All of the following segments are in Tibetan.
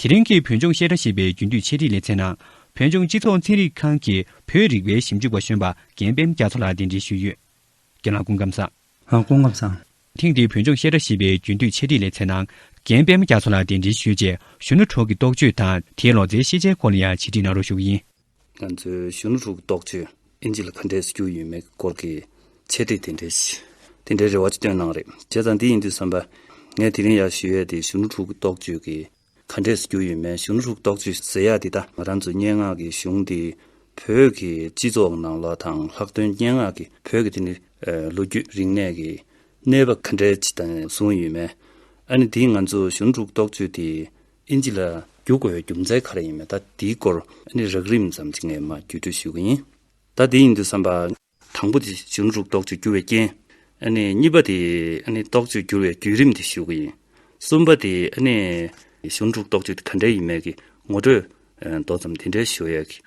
དེ་རིང་གི་བོད་ལྗོངས་བཤད་གྲྭ་ཞེས་པའི་རྒྱུན་མཐུད་འཆད་ཁྲིད་ལེ་ཚན་ནང་བོད་ལྗོངས་སྤྱི་ཚོགས་ཚན་རིག་ཁང་གི་བོད་རིག་པའི་ཞིབ་འཇུག་པ་གཞོན་པ་རྒན་པན་རྒྱ་མཚོ་ལགས་གདན་འདྲེན་ཞུས་ཡོད། རྒན་ལགས་སྐུ་ཁམས་བཟང། ལགས་སྐུ་ཁམས་བཟང། ཐེངས་འདིའི་བོད་ལྗོངས་བཤད་གྲྭ་ཞེས་པའི་རྒྱུན་མཐུད་འཆད་ཁྲིད་ལེ་ཚན་ནང་རྒན་པན་རྒྱ་མཚོ་ལགས་གདན་འདྲེན་ཞུས་རྗེས་གཞོན་ནུ་གྲོགས་ཀྱི་རྟོག་དཔྱོད་དང་དེའི་ལོ་ཙཱའི་ཤེས་བྱའི་སྐོར་ལ་ཡང་འཆད་ཁྲིད་གནང་རོགས་ཞུ་གི་ཡིན། ང་ཚོའི་གཞོན་ནུ་ཕྲུག་རྡོག་གཅོད་ཨིན་ཇི་ལ་ག་འདྲས་སུ་གྱུར་ཡོད་མེད་ཀྱི་སྐོར་གྱི་འཆད་ཁྲིད་དེ་འདྲའི་དེ་འདྲའི་རེ་བ་ཅིག་བཏོན་གནང་རེད་བྱས་ཙང་འདི་ཡིན་དུས་བསམ་པ། ངས་དེ་རིང་ཡར་ཞུ་ཡས་དེ་གཞོན་ནུ་ཕྲུག་རྡོག་གཅོད་ཀྱི་ག་འདྲས་སུ་གྱུར་ཡོད་མེད་གཞོན་ནུ་ཕྲུག་རྡོག་གཅོད་ཟེར་ཡ་འདི་ད་ང་རང་ཚོའི་སྙན་ངག་གི་གཞུང་འདི་བོད་ཀྱི་སྤྱི་ཚོགས་ནང་ལ་དང་ལྷག་དོན་སྙན་ངག་གི་བོད་ཀྱི་དེ་ནི་ལོ་རྒྱུས་རིག་གནས་ཀྱི་གནས་བབ་ག་འདྲས་ཅིག་དང་བཟུང་ཡོད་མེད་ཨ་ནི་འདི་ང་ཚོ་གཞོན་ནུ་ཕྲུག་རྡོག་གཅོད་དེ་ཨིན་ཇི་ལ་རྒྱུག་དགོས་པའི་རྒྱུ་མཚན་ག་རེ་ཡིན་མེད་ད་འདིའི་སྐོར་ནི་རགས་རིམ་ཙམ་ཅིག་ངས་མ་བརྒྱུད་སྤྲོད་ཞུ་གི་ཡིན། ད་འདི་ཡིན་འདུག་བསམ་པ། དང་པོ་དེ་གཞོན་དྲུག་རྟོག་དཔྱོད་འགྱུར་བའི་རྐྱེན། གཉིས་པ་དེ། རྟོག་དཔྱོད་འགྱུར་བའི་བརྒྱུད་རིམ་དེ་ཞུ་གི་ཡིན། གསུམ་པ་དེ། གཞོན་དྲུག་རྟོག་དཔྱོད་དེ་ག་འདྲའི་ཡིན་མེད་ཀྱི་ངོ་སྤྲོད། མདོ་ཙམ་དེ་འདྲའི་ཞུ་ཡས་ཀྱི།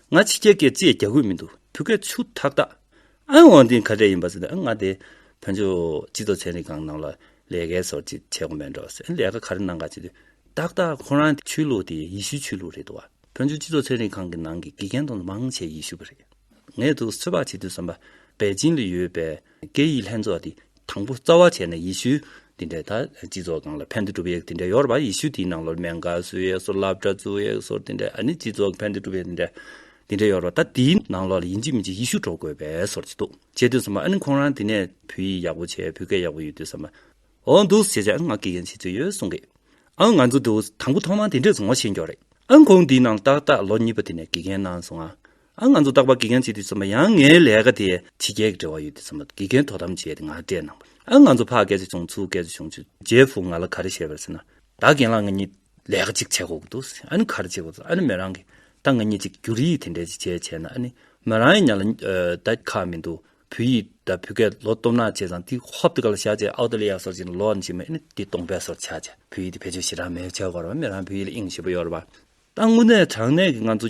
ང་ཕྱི་རྒྱལ་སྐད་རྩིས་རྒྱག་དགོས་མི་འདུག་བོད་སྐད་ཆུ་ཐག་ཐག། ཨ་ཝང་དེ་ག་གྲས་ཡིན་པ་ཟེར་ནས་ཨ་ང་དེ་བོན་ཆོས་སྤྱི་ཚོགས་ཚན་རིག་ཁང་ནང་ལ་ལས་ཀའི་སོར་ཅིག་བྱས་གོ་མེད་འགྲོ་ཟེར་ལས་ཀ་ག་རེ་གནང་ག་ཅིག་ཏག་ཏག་ཁོ་རང་གི་ཆོས་ལུགས་དེ་ཡི་ཤུའི་ཆོས་ལུགས་རེད་འདུག་བ་བོན་ཆོས་སྤྱི་ཚོགས་ཚན་རིག་ཁང་གི་ནང་གི་དགེ་རྒན་དང་མང་ཆེ་ཡི་ཤུ་བ་རེད་ངས་དུ་གསོལ་བ་བྱེད་དུས་བསམ་པ་པེ་ཅིན་ལ་ཡོད་པའི། དགེ་ཡི་ལྷན་ཚོགས་དེ་དང་པོ་རྩ་བ་བྱས་ནས་ཡེ་ཤུ་འདི་འདྲའི་ད་སྤྱི་ཚོགས་གང་ལ་ཕན་བདེ་སྒྲུབ་ཡས་དེ་འདྲའི་ཡོར་བ་ཡེ་ཤུ་དེའི་ནང་ལོར་མན་ག་སུ་ཡས་སོར་ལབ་གྲ་ཙུ་ཡས་སོར་དེ་འདྲའི་ཨ་ནི་སྤྱི་ཚོགས་ཕན་བདེ་སྒྲུབ་ཡས་དེ་འདྲའི་དེ་འདྲའི་ཡོར་བ་ད་དེའི་ནང་ལོར་ཡིན་གཅིག་མིན་གཅིག་ཡེ་ཤུ་འགྲོ་དགོས་པའི་སོར་གཅིག་འདུག་བྱས་དུས་སམ་ཨ་ནི་ཁོང་རང་དེ་ནས་བུ་ཡིས་ཡག་པོ་བྱས་བུ་གས་ཡག་པོ་ཡོད་དུས་སམ་འོ་འདུག་བྱས་བྱས་ཨ་ང་དགེ་རྒན་བྱེད་ཚོད་ཡོད་གསུང་གི་ཨ་ང་ཚོ་དུ་དང་པོ་ཐོག་མ་དེ་འདྲས་ངོ་ཤེས་མགྱོགས་རེད་ཨ་ཁོང་དེའི་ནང་ཏག་ཏག་ལོ་གཉིས་པ་དེ་ནས་དགེ་རྒན་གནང་སོང་ཨ་ཨ་ང་ཚོ་སྟག་པ་དགེ་རྒན་བྱེད་དུས་ཚོམས་པ་ཡང་ངའི་ལས་ཀ་དེ་ཕྱི་རྒྱལ་གྱི་འབྲེལ་བ་ཡོད་དུས་ཚོམས་པ་དགེ་རྒན་དོ་དམ་བྱས་ཏེ་ང་སྤྲད་གནང་བ། ཨ་ང་ཚོ་ཕ་སྐད་ཆ་ཆུང་ཚུལ་སྐད་ཆ་ཆུང་ཆུ་རྗེས་ཕུགས་ང་ལ་ག་རེ་བཤད་པར་ཟེར་ན། ད་རྒན་ལགས་ང་གཉིས་ལས་ཀ་གཅིག་བྱེད་དགོས་ཀྱི་འདུག་ཟེར་ཨ་ནི་ག་རེ་བྱེད་དགོས་ཟེར་ཨ་ནི་མོ་རང་གིས་ད་ང་གཉིས་གཅིག་འགྱུར་ཡིག་དེ་འདྲས་ཅིག་བྱེད་བྱས་ན་ཨ་ནི་མོ་རང་ཡིན་ཉག་ལ་ད་ཁ་མི་འདུག་བོད་ཡིག་ད་བོད་སྐད་ལོ་སྟོབས་ནག་བྱས་ཙང་དེ་ཧོབ་ཏི་ཀ་ལ་བཞག་བྱས་ཨའོ་ཏི་ལི་ཡ་སོར་བྱས་ན་ལོ་ཨ་ནི་བྱས་མོ་ཨ་ནི་དེ་སྟོང་པའི་སོར་ཆགས་བྱས་བོད་ཡིག་དེ་བེད་སྤྱོད་བྱེད་རང་མེད་བྱས་སྐོར་བ་མོ་རང་བོད་ཡིག་ལ་ཨིངས་ཞེས་པ་ཡོད་རེད་པ། ད་དངོས་གནས་དྲང་གནས་ཀྱི་ང་ཚོ་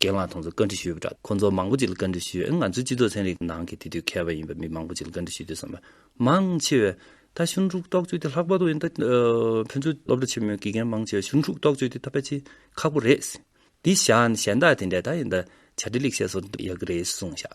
རྒན་ལགས་ཐོང་ཚོ་བཀའ་འདྲི་ཞུས་པ་འདྲ་ཁོང་ཚོ་མང་པོ་ཅིག་ལ་བཀའ་འདྲི་ཞུས་ང་ཚོའི་སྤྱི་ཚོགས་ཚན་རིག་ནང་གི་དེ་དུས་མཁས་པ་ཡིན་པ་མི་མང་པོ་ཅིག་ལ་བཀའ་འདྲི་ཞུས་དུས་བསམ་པ་མང་ཆེ་བས་ད་ཞུན་ཧྲུག་རྟོག་བཅོས་དེ་ལྷག་པ་དོག་ཡིན་ད་ཕན་ཚུན་སློབ་གྲ་ཆེན་མོའི་དགེ་རྒན་མང་ཆེ་བས་ཞུན་ཧྲུག་རྟོག་བཅོས་དེ་ད་ཕལ་ཆེ་ཁག་པོ་རེད་ཟེར་དེ་བཞག་ནས་གཞན་དག་དེ་འདྲས་ད་ཡིན་ད་བྱ་འདྲེ་ལེགས་བཤད་སོགས་ཡག་གི་རེད་གསུངས་བཞག་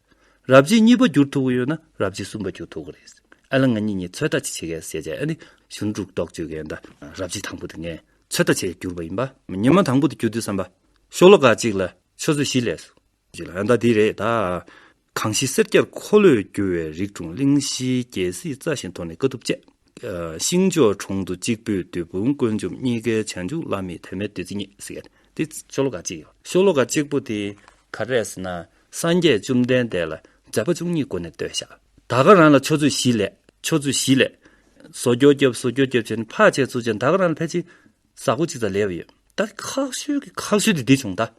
རབས་རྗེས་གཉིས་པ་བསྒྱུར་ཐུབ་ཀྱི་ཡོད་ན་རབས་རྗེས་གསུམ་པ་བསྒྱུར་ཐུབ་ཀྱི་རེད། ཨ་ལ་ང་གཉིས་གཉིས་ཚོད་ལྟ་ཅིག་བྱེད་གལ་སྲིད་བྱས་ཨ་ནི་གཞུང་དྲུག་རྡོག་གཅོད་མཁན་དང་རབས་རྗེས་དང་པོ་དེ་ངས་ཚོད་ལྟ་བྱས་བསྒྱུར་བ་ཡིན་པ། ཉི་མ་དང་པོ་དེ་བསྒྱུར་དུས་བསམ་པ། ཤོག་ལོ་ག་གཅིག་ལ་ཆུ་ཚོད་བཞི་ལས་སོ། ཅིག་ལ་ཨ་མདའ་འདི་རེད་ད། གངས་ཤིང་སེར་སྐྱར་འཁོར་ལོས་བསྒྱུར་བའི་རིགས་དྲུང་གླིང་བཞིའི་རྒྱལ་སྲིད་རྩ་ཞིང་དོར་ནས་དཀའ་ཐུབ་སྤྱད། ཤིང་ཕྱོགས་གྲོང་དུ་གཅིག་པུས་བདུད་དཔུང་བཀོད་འཇོམས་གཉིས་ཀའི་བྱང་ཆུབ་བླ་མེད་དད་མེད་བདུད་རྩི་རྙེད། དེ་ཤོག་ལོ་ག་གཅིག་ཡིན། ཤོག་ལོ་ག་གཅིག་པོ་དེ་ག་རེད་ཟེར་ན། སངས་རྒྱས་བཅོམ་ལྡན་འདས་ལ་བྱ་བ་བཅུ་གཉིས་སྒོ་ནས་བསྟོད་བཤགས། ད་ག་རང་ལ་ཆོས་ཚུལ་བཞི་ལས། ཆོས་ཚུལ་བཞི་ལས། བཟོ་སྐྱོ་སྐྱོབ་བཟོ་སྐྱོ་སྐྱོབ་བྱེད་འཕགས་བྱེད་ཚུལ་བྱེད་ད་ག་རང་ལ་ཕལ་ཆེར་ཟག་པོ་གཅིག་ཙམ་ལས་བ་ཡོད། ད་ཁག་ཤོས་ཀྱི་ཁག་ཤོས་དེ་འདི་བྱུང་ད།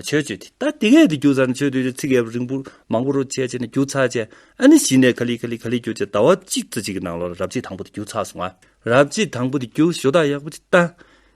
ཆོས་སྤྱོད་དེ་ད་དེ་གས་དེ་རྒྱུ་ཚར་ནས་ཆོས་སྤྱོད་ཚིག་གས་རིང་པོ་མང་པོ་རོ་བྱས་བྱས་ནས་རྒྱུ་ཚར་བྱས་ཨ་ནི་གཞི་ནས་ག་ལི་ག་ལི་ག་ལི་རྒྱུ་བྱས་ད་བ་གཅིག་ཙི་གཅིག་གི་ནང་ལོ་ལ་རབ་བྱེད་དང་པོ་དེ་རྒྱུ་ཚར་སོང་ང་རབ་བྱེད་དང་པོ་དེ་རྒྱུ་ཞོ་ད་ཡག་པོ་ཅིག་ད་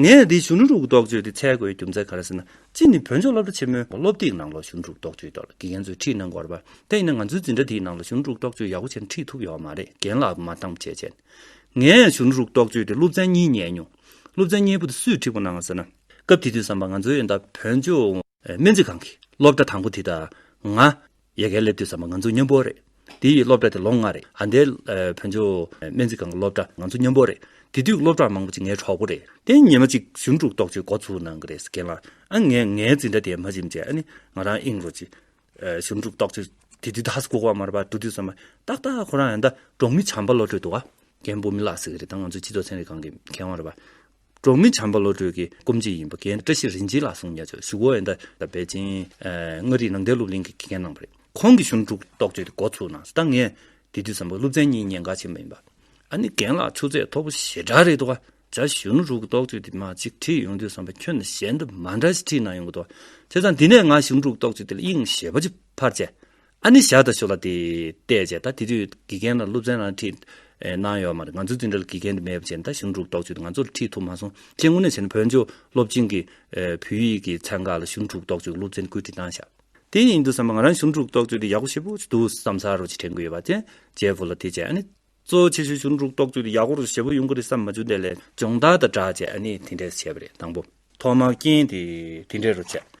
ངས་འདིའི་གཞོན་ནུ་ཕྲུ་གུ་རྟོག་དཔྱོད་དེ་འཚལ་དགོས་རྒྱུ་མཚན་ག་རེ་ཟེར་ན། གཅིག་ནི་བོད་ལྗོངས་སློབ་གྲྭ་ཆེན་མོའི་སློབ་དེབ་ནང་ལོ་གཞོན་ཕྲུ་གུ་རྟོག་དཔྱོད་ཐོག་ལ་དགེ་རྒན་ཚོས་ཁྲིད་གནང་དགོས་པ། དེ་ཡིན་ན་ང་ཚོའི་འཛིན་གྲྭ་དེའི་ནང་ལོ་གཞོན་ཕྲུ་གུ་རྟོག་དཔྱོད་ཡག་པོ་བྱས་ན་ཁྲིད་ཐུབ་ཡོད་མ་རེད་རྒན་ལགས་མ་གཏམ་བྱས་བྱས། ངས་གཞོན་ཕྲུ་གུ་རྟོག་དཔྱོད་དེ་སློབ་ཚན་གཉིས་ཉན་མྱོང། སློབ་ཚན་གཉིས་པོ་དེ་སུས་ཁྲིད་པོ་གནང་ཟེར་ན། སྐབས་དེ་དུས་བསམ་པ་ང་ཚོའི་ཨེ་འདའ་བོད་ལྗོངས། སྨན་རྩིས་ཁང་གིས་སློབ་གྲྭ་དང་པོ་དེ་དང། ང། ཡལ་གའི་སླེབས་དུས་ཙམ་པ་ང་ཚོ་མཉམ་པོ་རེད། དེའི་སློབ་གྲྭ་དེ་ལོ་ལྔ་རེད། ཨ་མདའི། བོན་ཆོས། སྨན་རྩིས་ཁང་གི་སློབ་གྲྭ་ང་ཚོ་མཉམ་པོ་རེད། དེ་དུས་སློབ་གྲྭ་མང་པོ་ཅིག་ངའི་གྲོགས་པོ་རེད། དེ་ཉིན་མ་གཅིག་གཞུང་དཀྲུག་གཏོགས་ཀྱི་འགོ་ཚུགས་གནང་གི་རེད་རྒན་ལགས། ཨ་ངས་ངའི་འཛིན་གྲྭ་དེ་མ་བྱིན་རྗེས་ཨ་ནི་ང་རང་ཨིང་རུ་ཅི། གཞུང་དཀྲུག་གཏོགས་ཀྱི། དེ་དུས་དྭགས་སུ་ལྐུགས་པ་མ་རེད་པ་འགྲོ་དུས་ཙམ་པ། ཏག་ཏག་ཁོ་རང་ཡང་ད་གྲོང་མི་བྱམས་པ་བློ་གྲོས་འདུག་ཨ། རྒན་པོ་མི་ལགས་ཟེར་གི་རེད་ད་ང་ཚོའི་སྤྱི་ཚོགས་ཚན་རིག་ཁང་གི་མཁས་དབང་རེད་པ། འབྲོག་མི་བྱམས་པ་བློ་གྲོས་ཀྱིས་སྐོམ་གཅིག་ཡིན་པ་རྒན་བཀྲ་ཤིས་རིན་ཆེན་ལགས་གསུངས་ཉེ་ཆར་བཞུགས་ཨོ་ཨེ་མདའ་ལ་བེ་ཅིན། མངའ་རིས་ནང་བསྟན་སློབ་གླིང་གི་དགེ་རྒན་གནང་བ་རེད། ཁོང་གིས་གཞུང་དྲུག་རྟོགས་བརྗོད་དེ་འགོ་ཚུགས་ནང་ད་ངས་དེ་དུས་བསམ་པ་སློབ་ཚན་གཉིས་ཉེན་ཁ་ཆེན་པོ་ཡིན་པ། ཨ་ནི་རྒན་ལགས་ཆུ་ཚད་མཐོ་པོ་ཞེ་དྲག་རེད་འདུག་ཨ་ཅག་གཞུང་དྲུག་རྟོགས་བརྗོད་དེ་མ་གཅིག་ཁྲིད་ཡོང་དུས་བསམ་པ་ཁྱོད་དང་གཞན་དུ་མ་འདྲ་ཞིག་ཁྲིད་གནང་ཡོང་གི་འདུག་ཨ། དེ་ཙང་འདི་ནས་ང་གཞུང་དྲུག་རྟོགས་བརྗོད་དེ་ལ་དབྱིངས་ཞེས་པ་ཅི་ཕར་བྱས། ཨ་ནི་ཞག་ད་ཞོ་ལ་དེ་བལྟས་བྱས་ད་དེ་དུས་དགེ་རྒན་ལ་སློབ་ཚན་རང་ཁྲིད་གནང་ཡོད་མ་རེད་ང་ཚོ་འཛིན་གྲྭ་ལ་དགེ་རྒན་དེ་མེད་པ་བྱས་ད་གཞུང་དྲུག་ལྡོག་ཆུད་དེ་ང་ཚོ་ལ་ཁྲིད་ཐུབ་མ་སོང་ཁྱེད་དངོས་གནས་བྱས་ན་བོད་ཆོས་སློབ་ཆེན་གི་བོད་ཡིག་གི་ཚན་ཁག་ལ་གཞུང་དྲུག་ལྡོག་ཆུད་ཀྱི་སློབ་ཚན་བཀོད་སྒྲིག་གནང་ཞག་དེ་ཡིན་འདུག་བསམ་པ་ང་རང་གཞུང་དྲུག་ལྡོག་ཆུད་དེ་ཡག་པོ་ཞེ་པོ་ཞིག་འདུག་བསམ་ས་རོ་ཅིག་དྲན་གི་ཡོད་པ་དེ་རྗེས་བོ་ལ་དེ་བྱས་ཨ་ནི་གཙོ་བོ་ཆེ་ཤོས་གཞུང་དྲུག་ལྡོག་ཆུད་དེ་ཡག་པོ་རུ་ཞེ་པོ་ཡོང་གི་རེད་བསམ་མ་ཅུ་དེ་ལས་སྦྱོང་བརྡར་དང་སྦྲགས་བྱས་ཨ་ནི་དེ་འདྲས་བྱས་པ་རེད་དང་པོ་ཐོག་མར་རྐྱེན་དེ་དེ་འདྲས་རུ་བྱས།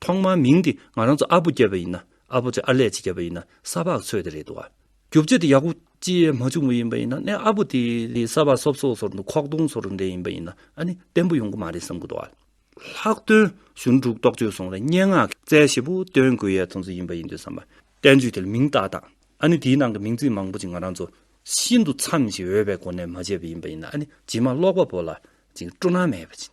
ཐོག་མར་མིང་འདི་ང་རང་ཚོ་ཨ་བུ་སྐྱེས་པ་ཡིན་ན་ཨ་བུ་ཚོས་ཨ་ལས་ཅིག་སྐྱེས་པ་ཡིན་ན་ས་ཕག་ཚོས་དེ་རེད་འདུག་ཨ། རྒྱུ་བརྗོད་དེ་ཡག་པོ་ཅིས་མ་བྱུང་བ་ཡིན་པ་ཡིན་ན་ནས་ཨ་བུ་དེ་ལས་ས་ཕག་སོབ་སོབ་ཚོར་འདུག་ཁོག་སྟོང་ཚོར་འདྲེ་ཡིན་པ་ཡིན་ན་ཨ་ནི་བརྟན་པོ་ཡོང་གི་མ་རེད་བསམ་གི་འདུག་ཨ། ལྷག་དོན་གཞུང་དྲུག་རྟོགས་བརྗོད་སོང་ལ་སྙན་ངག་གི་རྩལ་ཞེ་པོ་སྟོན་དགོས་ཡས་ཚོ་ཚོ་ཡིན་པ་ཡིན་འདུག་བསམ་པ། བསྟན་བཅོས་དེ་ལ་མིང་བཏགས་དང་ཨ་ནི་དེའི་ནང་གི་མིང་ཚིག་མང་པོ་ཅིག་ང་རང་ཚོ་ཤིན་ཏུ་འཚམས་ཤིང་འོས་པའི་སྒོ་ནས་མ་བྱས་པ་ཡིན་པ་ཡིན་ན་ཨ་ནི་ཇི་མ་ཀློག་པ་པོ་ལ་ཅིང་སྤྲོ་སྣང་མེད་པ་ཅིང།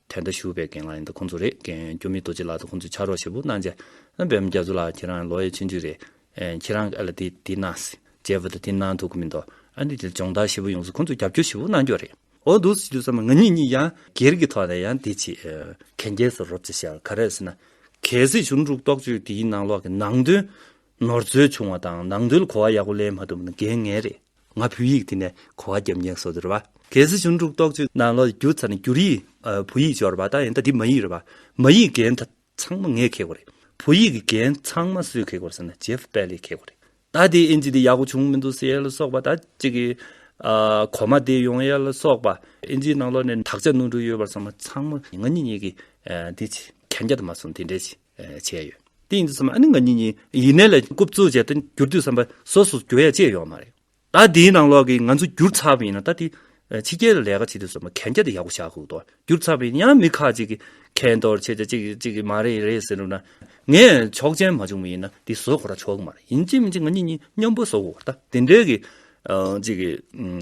དེ་འདྲ་ཞུ་བའི་རྒན་ལགས་ཡིན་ད་ཁོང་ཚོ་རེད་རྒན་སྐྱོ་མི་རྡོ་རྗེ་ལགས་ད་ཁོང་ཚོས་ཕྱག་རོགས་ཞེ་པོ་གནང་བྱས་བེམ་རྒྱ་མཚོ་ལགས་ཁྱེད་རང་ལོ་ཡས་ཆེན་ཆུས་རེད་ཁྱེད་རང་གི་ཨ་ལ་དེ་དེ་གནང་སི་ཇེ་བུ་ད་དེ་གནང་ཐུག་གི་མི་འདུག་ཨ་འདི་དེ་སྦྱོང་བརྡར་ཞེ་པོ་ཡོང་སི་ཁོང་ཚོས་རྒྱབ་སྐྱོ་ཞེ་པོ་གནང་རྒྱུ་རེད་འོ་འདུག་སི་ཇུ་ས་མ་ང་གཉིས་གཉིས་ཡང་སྒེར་གི་ཐོག་ནས་ཡང་དེ་ཆེད་གན་རྒྱས་སུ་རོབ་ཅེས་བཤད་ག་རེ་སི་ན་གལ་སི་ཞུ་འབྲུག་རྟོགས་བརྗོད་དེའི་ནང་ལོག་གི་ནང་དོན་ནོར་འཛོལ་བྱུང་བ་དང་ནང་དོན་གོ་བ་ཡག་པོ་ལེན་མ་ཐུབ་ན་འགན་ངའི་རེད། ང་བོད་ཡིག་དེ་ནས་གོ་བ་རྒྱབ་མཁན་བཟོ་རྒྱུ་རེད་པ། གལ་སྲིད་གཞུང་དྲུག་གཏོགས་ཅིག་ནང་ལོག་བསྒྱུར་ཚར་ནས་བསྒྱུར་ཡིག་བོད་ཡིག་འབྱོར་བ་ད་ཡིན་ད་འདི་མ་ཡིག་རེད་པ། མ་ཡིག་འགན་ད་ཚང་མ་ངས་འཁེལ་དགོས་རེད། བོད་ཡིག་གི་འགན་ཚང་མ་སུས་འཁེལ་དགོས་རེད་ཟེར་ན Jeff Bally འཁེལ་དགོས་རེད། ད་དེ་ཨིན་ཇི་དེ་ཡག་པོ་བྱུང་མི་འདུག་ཟེར་ལ་སོགས་པ་ད་ཅིག་གི། གོ་མ་དེ་ཡོང་ཡ་ལ་སོགས་པ། ཨིན་ཇིའི་ནང་ལོག་ནས་དག་ཆ་སྣུར་འདྲུག་ཡོད་པར་བསམ་ན་ཚང་མ་ང་གཉིས་གཉིས་ཀྱིས་འདི་གྱིས་གན་རྒྱ་དུ་མ་སོང་དེ་འདྲས་ཀྱིས། བྱས་ཡོད། དེ་ཡིན་དུས་བསམ་ན་ཨ་ནི་ང་གཉིས་གཉིས་ཡིན་ནའི་ལས་རྐུབ་བཙུགས་བྱས་ཏེ་འགྱུར་དུས་བསམ་པ་སོ་སོ་འགྱུར་ཡ་ཅེས་ཡོད་མ་རེད། ད་དེའི་ནང་ལོགས་ཀྱི་ང་ཚོ་འགྱུར་ཚར་བ་ཡིན་ན་ད་དེ་ཕྱི་རྒྱལ་ལ་ལས་ཀ་བྱེད་དུས་བསམ་པ་གན་རྒྱ་དེ་ཡག་པོ་བཞག་དགོས་དོ། འགྱུར་ཚར་བ་ཡིན་ན་ཡང་མི་ཁག་ཅིག་གིས་ཁེན་ཏོར་བྱས་ཏེ་ཅིག་ཅིག་གིས་མ་རེད་རེད་ཟེར་འགྲོ་ན། ངས་ཆོག་མཆན་མ་བྱུང་བ་ཡིན་ན་དེ་བཟོ་གོ་ར་ཆོག་གི་མ་རེད། ཡིན་ཅི་མིན་ཅི་ང་གཉིས་གཉིས་མཉམ་པོ་བཟོ་དགོས་པ་རེད་ད། དེ་འདྲའི་གི་ཅིག་གི་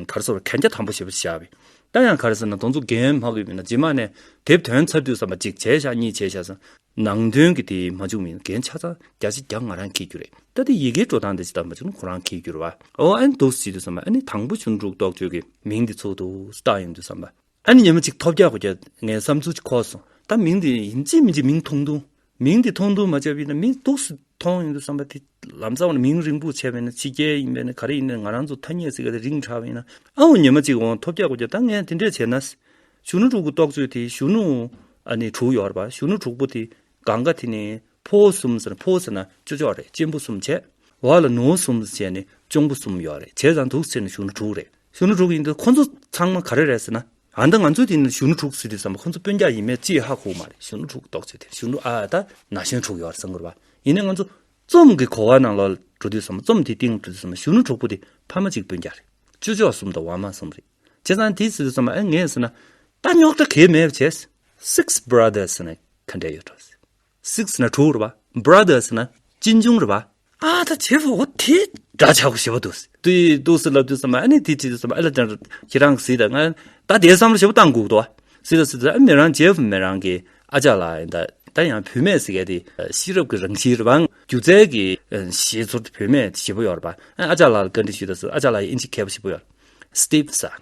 གར་སོར་གན་རྒྱ་དམ་པོ་བྱས་པ་བཞག་པའི་ད་ཡང་གར་ཟེར་ན་དོང་ཚུགས་རྒན་མ་གི་མིན་ན་རྗེས་མ་ནས་དེབ་དོན་ཚར་དུས་བསམ་པ་གཅིག་བྱས་ཤག་གཉིས་བྱས་ཤག་བསམ། ནང་དོན་གི་དེ་མ་བཅུག་མིན་རྒན་ཆ་ཚང་བརྒྱ་ཆ་བརྒྱ་ང་རང་གིས་རྒྱུ་རེད་ད་དེ་ཡི་གེའི་འགྲོ་སྟངས་དེ་ཇི་ལྟར་མ་བཅུག་ན་ཁོ་རང་གིས་རྒྱུར་བ་ཨོ་ཨེ་འདུག་ཟེར་དུས་བསམ་པ་ཨེ་ནི་དང་པོ་ཆུ་འབྲུག་རྟོགས་བརྗོད་ཀྱི་མིང་དེ་ཚུགས་འདུག་སྟག་ཡིན་དུས་བསམ་པ་ཨེ་ནི་ཉི་མ་གཅིག་ཐོབ་བརྒྱ་གོ་བརྒྱ་ངའི་བསམ་ཚུལ་གཅིག་ཁོག་སོང་ད་མིང་དེ་ཡིན་གཅིག་མིན་གཅིག་མིང་ཐུང་ཐུང་མིང་དེ་མཐོང་དུ་མ་བཅབ་ཡིན་ན་མིང་སྡུག་སུ་མཐོང་ཡོང་དུ་བསམ་པ་དེ་ལམ་ཙག་བ་མིང་རིང་པོ་བྱས་པས་ན་ཕྱི་རྒྱལ་ཡིན་པས་ན་ག་རེ་ཡིན་ན་ང་རང་ཚོ་ཐ་སྙད་ཟེར་ག་དེ་རིང་དྲག་པ་ཡིན་ན་ཨའོ་ཉི་མ་ཅིག་འོང་ཐོབ་རྒྱག་གོ་རྒྱག་ད་ངས་དེ་འདྲས་བྱས་ན། གཞོན་ནུ་དྲུག་གི་རྟོགས་བརྗོད་དེ་གཞོན་ནུ་ཨ་ནི་དྲུག་ཡོད་པ་གཞོན་ནུ་དྲུག་པོ་དེ་གང་ག་དེ་ནི་ཕོ་བོ་གསུམ་ཟེར་ན་ཕོ་བོ་ཟེར་ན་ཅོ་ཅོ་བ་རེད་གཅེན་པོ་གསུམ་བྱས་བ་ལ་ནུ་བོ་གསུམ་བྱས་ནི་གཅོང་པོ་གསུམ་ཡོད་རེད་བྱས་ཙང་དུག་ཟེར་ན་གཞོན་ནུ་དྲུག་རེད། གཞོན་ནུ་དྲུག་ཡིན་འདུག་ཁོ་ཚོ་ཚང་མ་ག་རེ་རེད་ཟེར་ན། ཨ་མདའ་ང་ཚོས་དེ་ནི་གཞོན་ནུ་དྲུག་ཟེར་དུས་བསམ་པ་ཁོ་ཚོ་དཔོན་རྒྱག་ཡིན་མེད་ཅི་ཡོད་ཧ་གོ་མ་རེད་གཞོན་ནུ་དྲུག་གདོག་བྱེད་དེ་གཞོན་ནུ་ཨ་ད་ན་གཞོན་དྲུག་ཡོད་ཟེར་འགོར་བ་ཡིན་ནས་ང་ཚོ་རྩོམ་གྱི་གོ་བ་ནང་ལ་འགྲོ་དུས་བསམ་རྩོམ་དེའི་སྟེང་འགྲོ་དུས་བསམ་གཞོན་ནུ་དྲུག་པོ་དེ་ཕ་མ་གཅིག་དཔོན་རྒྱག་རེད་ཅོ་ཅོ་གསུམ་དང་བ་མ་གསུམ་རེད་བྱས་ཙང་དེ་ཟེར་དུས་བསམ་ཨེ་ངེས་ཟེར་ན་ད་རྙོག་དྲ་གས་མེད་བྱས། Six Brothers ཟེར་ནས་ག་འདྲས་ཡོད་དྲོ་ཟེར། Six ན་དྲུག་རེད་པ Brothers ན་གཅིག་འབྱུང་རེད་པ། ཨ་ད་དེ་བོ་ཨོ་དེ་འདྲ་བྱ་དགོས་ཞེས་པ་འདུག་དེ་འདུག་སེ་ལབ་དུས་སམ་ཨ་ནི་དེ་དེ་སམ་ཨེ་ལ་དེ་འདྲ་ཁྱེད་རང་གི་སི་ད་ང་ད་དེ་བསམ་བློ་ཞེས་པ་བཏང་འགུག་འདུག་སི་ད་སི་ད་ཨ་མེ་རང་ཇེ་ཧྥུ་མེ་རང་གི་ཨ་ཅག་ལ་ཡིན་ད་ད་ཡང་བུད་མེད་ཟེར་མཁན་དེ་ཤེས་རབ་ཀྱི་རང་བཞིན་རེད་པ་སྒྱུ་རྩལ་གྱི་ཞེས་ཚོར་དེ་བུད་མེད་ཞེས་པོ་ཡོད་རེད་པ་ཨ་ཅག་ལ་ལ་བཀའ་འདྲི་ཞུས་ད་སི་ཨ་ཅག་ལ་ཡིན་ཅི་མཁས་པོ་ཞེས་པོ་ཡོད་རེད Steve ཟེར།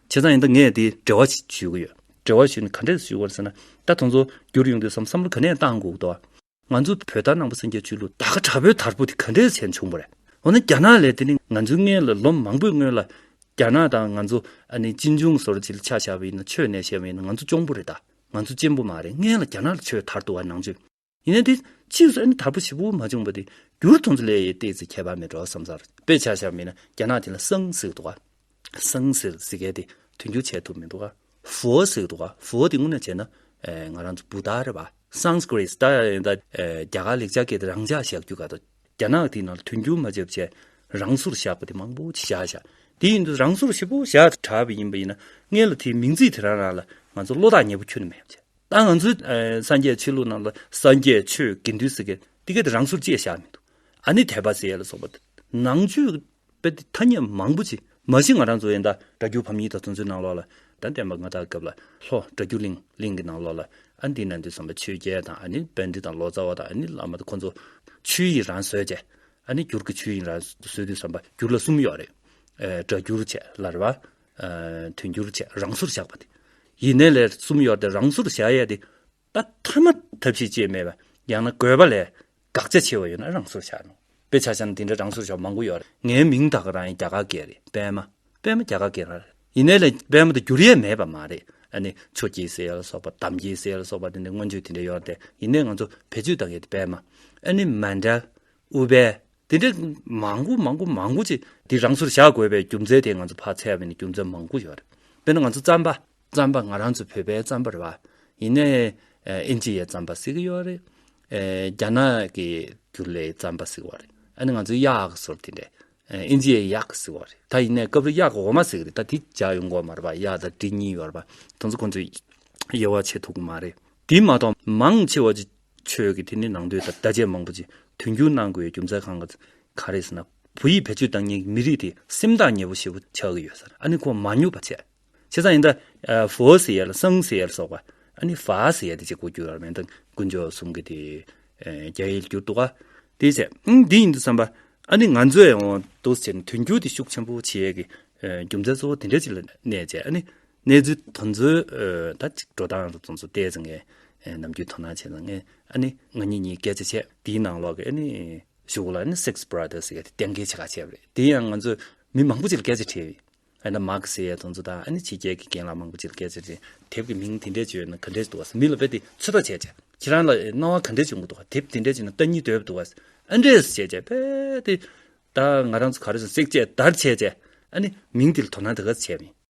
བྱས་ཙང་ཡང་ད་ངས་དེ་འབྲེལ་བ་ཞིག་ཞུ་གི་ཡོད། འབྲེལ་བ་ཞུ་ནས་ག་འདྲས་ཞུ་དགོས་ཟེར་ན། ད་དང་ཚོ་འགྱུར་ཡོང་དུས་སམ་བསམ་བློ་ག་ནས་བཏང་དགོས་འདུག་ང་ཚོ་བོད་དར་ནང་པ་སེང་གེ་ཆོས་ལུགས་ད་ག་དྲག་པོའི་དར་པོ་དེ་ག་འདྲས་བྱས་བྱུང་བ་རེད། འོ་ན་རྒྱ་ནག་ལས་དེ་ནི་ང་ཚོའི་མངལ་ལ་ལོ་མང་པོའི་སྔོན་ལ། རྒྱ་ནག་དང་ང་ཚོ་ཨ་ནི་གཅིན་འབྱུང་ཟོར་བྱིལ་ཆགས་བྱ་བ་ཡིན་ན་ཆོས་གནས་བྱེད་པ་ཡིན་ན་ང་ཚོ་གཅོང་པོ་རེད་ད། ང་ཚོ་གཅེན་པོ་མ་རེད་མངལ་ལ་རྒྱ་ནག་ལ་ཆོས་དར་འདུག་བ་ནང་ཆོས། ཡིན་ན་དེ་ཕྱིས་སུ་ཨ་ནི་དར་པོ་བྱི་བུ་མ་བྱུང་བ་དེ་འགྱུར་དུང་ཚོ་ལས་ཡེ་ཏེ་ཚེ་ཁྱད་པར་མེད་འགྲོ་བསམ་སར་དཔེ་ཆ་བཞག་མིན་ན་རྒྱ་ནག་དེ་ལ་སང་ཟིག་འདུག་ག་སང་ཟིག་ཟེར་མཁན་དེ་དོན་འགྱུར་བྱས་ཐུབ་མི་འདུག་ག་བུའོ་ཟིག་འདུག་ག་བུའོ་དེ་དངོས་གནས་བྱས་ན་ང་རང་ཚོ་བུ་ད་རེད་བ་སང་ཟིག་རེད་ད་ཡིན་ད་རྒྱ་གར་ལེགས་ཆ་སྐད་དེ་རང་འཇགས་བཞག་རྒྱུ་ག་ད་རྒྱ་ནག་དེ་ནང་ལ་དོན་འགྱུར་མ་བྱས་པ་བྱས་རང་སོར་བཞག་པ་དེ་མང་པོ་བྱས་བཞག་བཞག་དེ་ཡིན་དུ་རང་སོར་བྱི་བུ་བཞག་གྲབས་ཡིན་པ་ཡིན་ན་ངེད་ལ་དེ་མིང་ཚིག་དེ་རང་རང་ལ་ང་ཚོ་བློ་ཐག་ཉེ་པོ་ཁྱོད་ནས་མེད་བྱས། ད་ང་ཚོའི་སངས་རྒྱས་ཆོས་ལུགས་རྣམས་ལ་སངས་རྒྱས་ཆོས་དགེ་འདུན་ཟེར་མཁན་དེ་གས་དེ་རང་ཚུར་གཅེས་བཞག་མི་འདུག་ཨ་ནི་དད་པ་ཟེར་ཡས་ལ་སོགས་པ་དེ་ནང་ཆོས་དཔེ་དེ་ཐ་སྙད་མང་པོ་ཆེ་མ་གཞི་ང་རང་ཚོ་ཡན་དག་སྒྲ་སྒྱུར་བམ་ཉིད་དང་མཚུངས་ཚུལ་ནང་ལོགས་ལ་ད་བསྟན་པ་ང་དག་སྐབས་ལ་ལྷོ་སྒྲ་སྒྱུར་གླིང་གླིང་གི་ནང་ལོགས་ལ་ཨ་འདི་ན་འདི་སོང་པ་ཆོས་རྒྱལ་དང་ཨ་ནི་དཔལ་འདི་དང་ལོ་ཙཱ་བ་དང་ཨ་ནི་བླ་མ་དེ་ཁོང་ཚོ་ཆོས་ཡིན་རང་བཟོས་བྱས་ཨ་ནི་སྒྱུར་གྱི་ཆོས་ཡིན་རང་བཟོས་དུས་བསམ་པ་སྒྱུར་ལ་གསུམ་ཡོག་རེད་སྒྲ་སྒྱུར་བྱས་ལར་བ་དུས་འགྱུར་བཅས་རང་སོར་བཞག་པ་དེ་ཡིན། ནད་ལས་གསུམ་ཡོད་དེ་རང་སོར་བཞག་ཡས་དེ། ད་ཐ་མ་ཐབས་ཤེས་བཅས་མེད་པ་ཡང་ན་དགོས་པ་ལས་དགག་བྱ་ཆེ་བ་ཡོད་ན་རང་སོར་བཞག་ནོ། དཔེ་ཆ་ཆ་ནི་དེ་འདྲ་རང་སོར་བཞག་པ་མང་པོ་ཡོད་རེད། ངའི་མིང་དག་རང་ཡིན་རྒྱ་གར་སྐད་རེད་པད་མ། པད་མ་རྒྱ་གར་སྐད་རེད། ཡིན། ནད་ལས་པད་མ་དུ་འགྱུར་ཡས་མེད་པ་མ་རེད། ཨ་ནི་ཆོས་ཀྱི་སྲས་ལ་སོགས་པ་དམ་གྱི་སྲས་ལ་སོགས་པ་དེ་འདྲའི་མངོན་བརྗོད་དེ་འདྲ་ཡོད་དེ་ཡིན། ནད་ང་ཚོ་བེད་སྤྱོད་བཏང་ཡས་དེ་པད་མ་ཨ་ནི་མ་འདྲ། ཨུ་བེ། འདི་འདྲའི་མང་པོ་མང་པོ་མང་པོ་ཅིག་འདི་རང་ཚུར་བཞག་དགོས་པའི་རྒྱུ་མཚན་དེ་ང་ཚོ་ཕར་འཚལ་བས་ནི་རྒྱུ་མཚན་མང་པོ་ཡོད། དཔེར་ན་ང་ཚོ་རྩམ་པ། རྩམ་པ་ང་རང་ཚོ་བོད་པའི་རྩམ་པར་བ། ཡིན་ནའི་ཨིན་ཇི་ཡའི་རྩམ་པ་བསྲེགས་ཀྱི་ཡོད་རེད། རྒྱ་ནག་གི་རྒྱུ་ལའི་རྩམ་པ་བསྲེགས་བ་རེད། ཨ་ནི་ང་ཚོའི་གཡག་སོར་དེ་འདྲས། ཨིན་ཇི་ཡའི་གཡག་བསྲེགས་བ་རེད། ད་ཡིན་ནའི་སྐབས་རེ་གཡག་གི་འོ་མ་བསྲེགས་རེད་ད་དེ་བྱ་ཡོང་གོ་མ་རེད་པ་གཡག་དང་གྲི་གཉིས་ཡོད་རེད་པ། དང་ཚོ་ཁོང་ཚོས་དབྱེ་བ་ཕྱེ་ཐུབ་ཀྱི་མ་རེད། དེ་མ་གཏོགས་མང་ཆེ་བ་ཅིག་ཆོས་ཀྱི་དེ་ནི་ནང་དོན་དང་བརྡ་ཆད་མང་པོ་ཅིག་དོན་འཁྱོལ་གནང་དགོས་ཡོད་རྒྱུ་མཚན་གང་གང་རེད་ཟེར་ན། བོད་ཡིག་བེད་སྤྱོད་བཏང་ཉིན་མི་རིགས་དེ་སེམས་ཐག་ཉེ་བོ་ཞེ་བོ་ཆགས་ཀྱི་ཡོད་ས་རེད་ཨ་ནི་ཁོང་མ་ཉོབ་པ་བྱས། བྱས་ཙང་ཡིན་ད། ཧྥོ་ཟེར་ཡ་ལ་སང་ཟེར་ཡ་ལ་སོགས་པ། ཨ་ནི་ཧྥ་ཟེར་ཡ་དེ་བཅས་གོ་རྒྱུ་ཡོད་རེད་ད། དཀོན་མཆོག་གསུམ་གྱི་དེ། རྒྱ་ཡིག་བསྒྱུར་འདུག་ག། དེ་བྱས། ཨང་དེ་ཡིན་དུ་བསམ་པ། ཨ་ནི་ང་ཚོས་ཨོ་དོ་སེར་ནི་དོན་འཁྱོལ་དེ་ཤུགས་ཆེན་པོ་བྱེད་ཡས་ཀྱི། རྒྱུ་མཚན་གཙོ་བོ་དེ་འདྲ་ཅིག་ལ་གནས་བྱས་ཨ་ནི། གནས་ཚུལ་དོན་འཛོལ་ད་ཅིག་འགྲོ་སྟངས་རུ་ཙོང་སུ་བལྟས་ཚེ་ནམ་རྒྱུན་དོ་སྣང་བྱས་ཙང་ཨ་ནི་ང་གཉིས་གཉིས་སྐད་ཆ་བྱས་དེའི་ནང་ལོག་གི་ཨ་ནི་གཞུག་ལ་ཨ་ནི six brothers ཡོད་དེ་གཏན་འཁེལ་བྱེད་ཁ་ཆེ་བ་རེད་དེ་ཡང་ང་ཚོས་མི་མང་པོ་ཅིག་ལ་སྐད་ཆ་དྲིས་ཡོད་ཨ་ན་མཱ་ཁི་སི་ཡའི་དོན་ཚོ་དང་ཨ་ནི་ཕྱི་རྒྱལ་གྱི་རྒན་ལགས་མང་པོ་ཅིག་ལ་སྐད་ཆ་དྲིས་དེབ་ཀྱི་མིང་དེ་འདྲས་བྱོས་ན་ག་འདྲས་འདུག་བ་མི་ལ་བལྟས་ཏེ་ཚོད་དཔག་བྱས་ཀྱང་ཁྱེད་རང་ལ་སྣང་བ་ག་འདྲས་བྱུང་གི་འདུག་བ་དེབ་དེ་འདྲས་བྱོས་ན་ལྟ་གཉིས་དོད་པ་འདུག་བ་ཨ་འདྲས་བྱས་ཀྱང་བལྟས་ཏེ་ད་ང་རང་ཚོ་ག་རེ་བྱུང six བྱས་དར་བྱས་ཀྱང་ཨ་ནི་མིང་དེ་ལ་དོ་སྣང་དེ་ག་ཚོད་བྱས་མིན།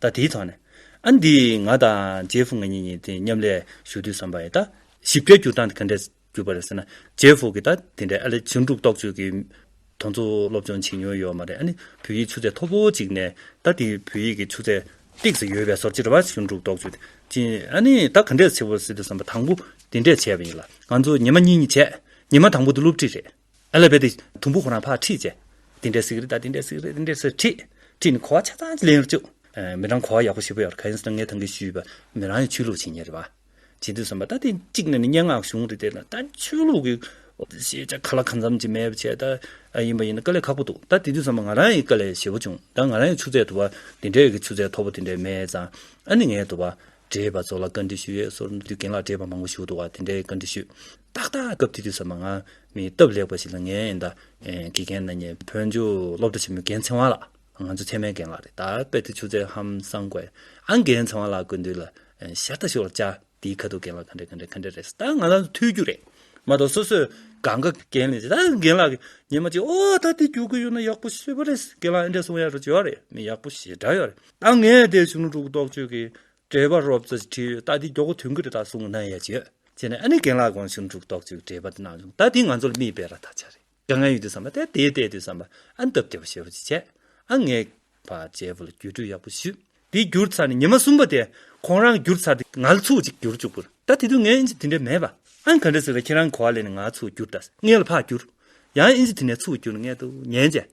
ད་དེའི་ཐོག་ནས། ཨ་འདི་ང་དང་ཇེ་ཧྥུ་ང་གཉིས་གཉིས་དེ་མཉམ་ལས་ཞུ་དུས་བསམ་པ་ཡིན། ད་ཞིབ་ཕྲའི་སྒྱུར་སྟངས་དེ་ག་འདྲས་གྱུར་པ་རེད་ཟེར་ན། ཇེ་ཧྥུ་གིས་ད་དེ་འདྲའི་ཨ་ལེ་ཇིང་འབྲུག་རྟོགས་བརྗོད་ཀྱི་དོན་ཚོ་སློབ་སྦྱོང་བྱེད་མྱོང་ཡོད་མ་རེད་ཨ་ནི་བོད་ཡིག་ཆུ་ཚད་མཐོ་པོ་ཅིག་ནས་ད་དེ་བོད་ཡིག་གི་ཆུ་ཚད་སྟེགས་སུ་ཡོད་པའི་ཟོར་ཇི་རེ་བ་ཞིང་འབྲུག་རྟོགས་བརྗོད་དེ་ཅི་ཨ་ནི་ད་ག་འདྲས་ཆེ་བོ་སྲིད་དུ་བསམ་པ་དང་པོ་དེ་འདྲས་བྱས་པ་ཡིན་ལ། ང་ཚོ་ཉི་མ་གཉིས་གཉིས་བྱས། ཉི་མ་དང་པོ་དེ་སློབ་ཁྲིད་རེད། ཨ་ལ་བས་ཏེ། དུམ་བུ་ཧོ་རང་ཕག་ཁྲིད་བཅས། དེ་འདྲའི་ཟིག་རི་དང་དེ་འདྲའི་ཟིག་རི་དེ་འདྲའི་ཟིག་ཁྲིད། ཁྲིད་ནི་གོ་བ་ཆ་ཚང་གཅིག་ལེན་རུ་བཅུག། མི་རང་གོ་བ་ཡག་པོ་ཞིག་པོ་ཡོད་རེད་ཁ་ཡིན་ཟེར་ན་ངས་ཐང་གིས་ཞུས་པ། མི་རང་ཡང་ཆོས་ལུགས་བྱེད་ངེས་རེད་བ། བྱེད་དུས་བསམ་པ་ད་ཐེངས་གཅིག་ནས་ནི་སྙན་ངག་གཞུང་རེད་དེ། ད་ཆོས་ལུགས་ཀྱི། ཤེས་བྱ་ག་ལ་གང་འཚམ་ཅིག་མེད་པ་བྱས། ད་ཡིན་པ་ཡིན་ན་དཀའ་ལས་ཁག་པོ་འདུག་ད་དེ་དུས་བསམ་པ་ང་རང་ཡི་དཀའ་ལས་ཞེ་བོ་བྱུང། ད་ང་རང་ཡི་ཆུ་ཚད་དུ་བ། དེ་འདྲའི་གི་ཆུ་ཚད་མཐོ་པོ་དེ་འདྲའི་མེད་ཙང། ཨ་ནི་ངས་དུ་བ། བགྲེས་པ་ཚོ་ལ་བཀའ་འདྲི་ཞུ་ཡས་སོར་འདུས་རྒན་ལགས་བགྲེས་པ་མང་པོ་བཞུགས་འདུག་བ་དེ་འདྲའི་བཀའ་འདྲི་ཞུས། ཏག་ཏག་སྐབས་དེ་དུས་ཟ་མ་ང་མི་སྟབས་ལེགས་པ་ཞིག་ལ་ངའི་ཨེ་འདའ། དགེ་རྒན་ནཱ་ཉེ་བོད་འཇུག་སློབ་གྲྭ་ཆེན་མོའི་རྒན་ཚེ་དབང་ལགས། ང་ཚོའི་ཚད་མའི་རྒན་ལགས་རེད། ད་དཔེར་དུ་ཆུ་ཚད་ཧམ་སང་དགོས། ཨ་རྒན་ཚེ་དབང་ལགས་དགོས་འདོད་ལ། ཤ་སྟག་ཤོག་ལ་བཅའ། དེའི་ཁ་ཐུག་རྒན་ལགས་ག་འདྲས་ག་འདྲས་ག་འདྲས་རེད། ད་ང་ལ་ཐོས་རྒྱུ་རེད། མ་གཏོགས་སོ་སོས་གང་ག་རྒན་ལས་བྱེད། ད་རྒན་ལགས་ཉན་མ་ཅིག་ཨོ་ད་དེ་རྒྱུགས་ཀྱི་ཡོད་ན་ཡག་པོ་ཤེས་པ་རེད། རྒན་ལགས་ཨེ་འདྲས་སོང་ཡ་རོ་བྱེད་ཡག་རེད། མི་ཡག་པོ་ཞེ་དྲག་ཡོད་རེད། ད་ངས་དེ་བྱུང་ལུགས་རྟོགས་བྱོས་ཀྱི། འགྲེལ་པ་རོབ་ཙོ་བྲིས་ཡོད་ད་འདི་འགྱོག་གོ་དུས་འགུལ་རེ་ད་སུང་གནང་ཡ་ཅི་ཡོད་ཅེ་ན་ཨ་ནི་རྒན་ལགས་དགོངས་ཞུ་འགྲུག་དོག་ཅིག་འགྲེལ་པ་འདི་གནང་བྱུང་ད་འདི་ང་ཚོར་མིས་འབད་ར་ད་ཆ་རེད་དགའ་ང་ཡོད་དུས་བསམ་པ་དེ་དེ་བལྟས་དུས་བསམ་པ་ཨ་ནི་སྟབས་བདེ་བ་ཞེ་བོ་ཅིག་བྱས་ཨ་ངས་བ་ཇའི་བུ་ལ་རྒྱུས་སྤྲོད་ཡག་པོ་ཞུ་འདི་བསྒྱུར་ཚར་ནས་ཉི་མ་གསུམ་པ་དེ་ཁོང་རང་བསྒྱུར་ཚར་དུས་ང་ལ་ཚུགས་ཅིག་བསྒྱུར་བཅུག་པུར་ད་དེ་དུས་ངའི་ཨིན་ཇི་དེ་འདྲས་མེད་པ་ཨ་ནི་ག་འདྲས་ཟེར་བ་ཁྱེད་རང་གི་གོ་བ་ལེན་ནས་ང་ཚུགས་བསྒྱུར་ད་ངས་ལ་བག་བསྒྱུར་ཡང་ཨིན་ཇི་དེ་ནས་ཚུགས་བསྒྱུར་ངས་ཏུ་ཉན་བྱས།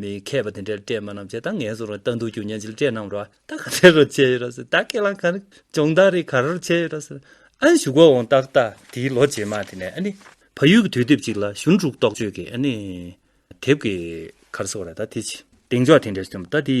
མི་མཁས་པ་དེ་འདྲས་སྤྲད་མ་རྣམས་བྱས་ད་ངན་སོང་རང་ལྟ་འདུག་ཀྱུ་ཉན་ཅིག་སྤྲད་རྣམས་ར་ད་ག་དེ་རུ་བྱས་ཡོད་ར་ཟེར་ད་ཁས་ལངས་ག་རེ་སྦྱོང་བདག་རེད་ག་རུ་བྱས་ཡོད་ར་ཟེར་ཨ་ནི་ཞུ་གོ་འོང་ཏག་ཏག་དེའི་ལོ་རྗེས་མ་དེ་ནས་ཨ་ནི་ཕ་ཡུལ་གྱི་དུས་དེབ་ཅིག་ལ་གཞུང་དྲུག་རྟོགས་བརྗོད་ཀྱི་ཨ་ནི་དེབ་ཀྱི་གར་སོགས་ར་ད་དེ་བྱས། གདེང་འཇོག་དེ་འདྲས་བྱུང་ད་དེའི་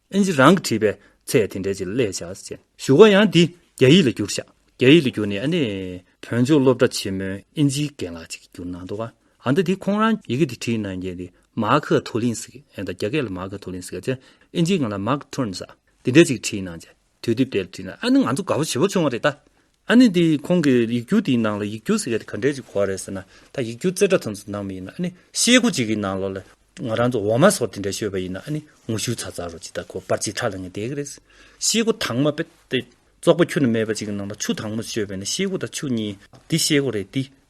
ཨིན་ཇི་རང་གིས་བྲིས་པའི་ཚེ་དེ་འདྲའི་ཅིག་ལས་བྱ་སྤྱད། ཞུ་བ་ཡང་འདི་རྒྱ་ཡིག་ལ་བསྒྱུར་བྱ། རྒྱ་ཡིག་ལ་བསྒྱུར་ནས་ཨ་ནེ། བོན་ཆོས་སློབ་གྲྭ་ཆེན་མོའི་ཨིན་ཇིའི་རྒན་ལགས་ཅིག་གིས་བསྒྱུར་གནང་འདུག་ཨ་མདོ་དེ་ཁོང་རང་ཡི་གེ་འདི་བྲིས་གནང་མཁན་དེ་མཱ་ཁི་ཐོ་ལིན་སི་ཀེ་དང་རྒྱ་སྐད་ལ་མཱ་ཁི་ཐོ་ལིན་སི་ཀེ་ཅེས་ཨིན་ཇིའི་ངག་ལ Mark Twain ཟ་དེ་འདྲའི་ཅིག་བྲིས་གནང་སྤྱད་དུས་དེབ་དེར་བྲིས་ན་ཨ་ནི་ང་ཚོ་དགའ་བོ་བྱེད་པོ་བྱུང་བ་རེད་ད། ཨ་ནི་དེ་ཁོང་གི་ཡིག་སྒྱུར་དེའི་ནང་ལ་ཡིག་སྒྱུར་ཟེར་མཁན་དེ་ག་འདྲའི་གོ་བ་རེད་ཟེར་ན། ད་ཡིག་སྒྱུར་རྩེ་གྲ་ཙམ་ཙམ་གནང་མི་ཡིན་ན་ཨ་ནི་ཤེལ་སྒོ་གཅིག་གི་ནང་ལོགས་ལ་ང་རང་ཚོ་འོ་མ་སོར་དེ་འདྲ་ཤོད་པ་ཡིན་ན་ཨ་ནི་ངོ་ཤུལ་ཚ་ཚ་རུ་ཇི་ལྟར་ཁོ་པར་ཅིག་ཁྲ་ལ་ངེས་བསྡད་གི་རེད། ཤེལ་སྒོ་དྭངས་མ་པད་ཏེ་བཙོག་པ་ཁྱུ་ན་མེད་པ་ཅིག་གི་ནང་ལ་ཆུ་དྭངས་མོ་ཤོད་པས་ན་ཤེལ་སྒོ་དང་ཆུ་གཉིས་དེ་ཤེལ་སྒོ་རེད་དེ།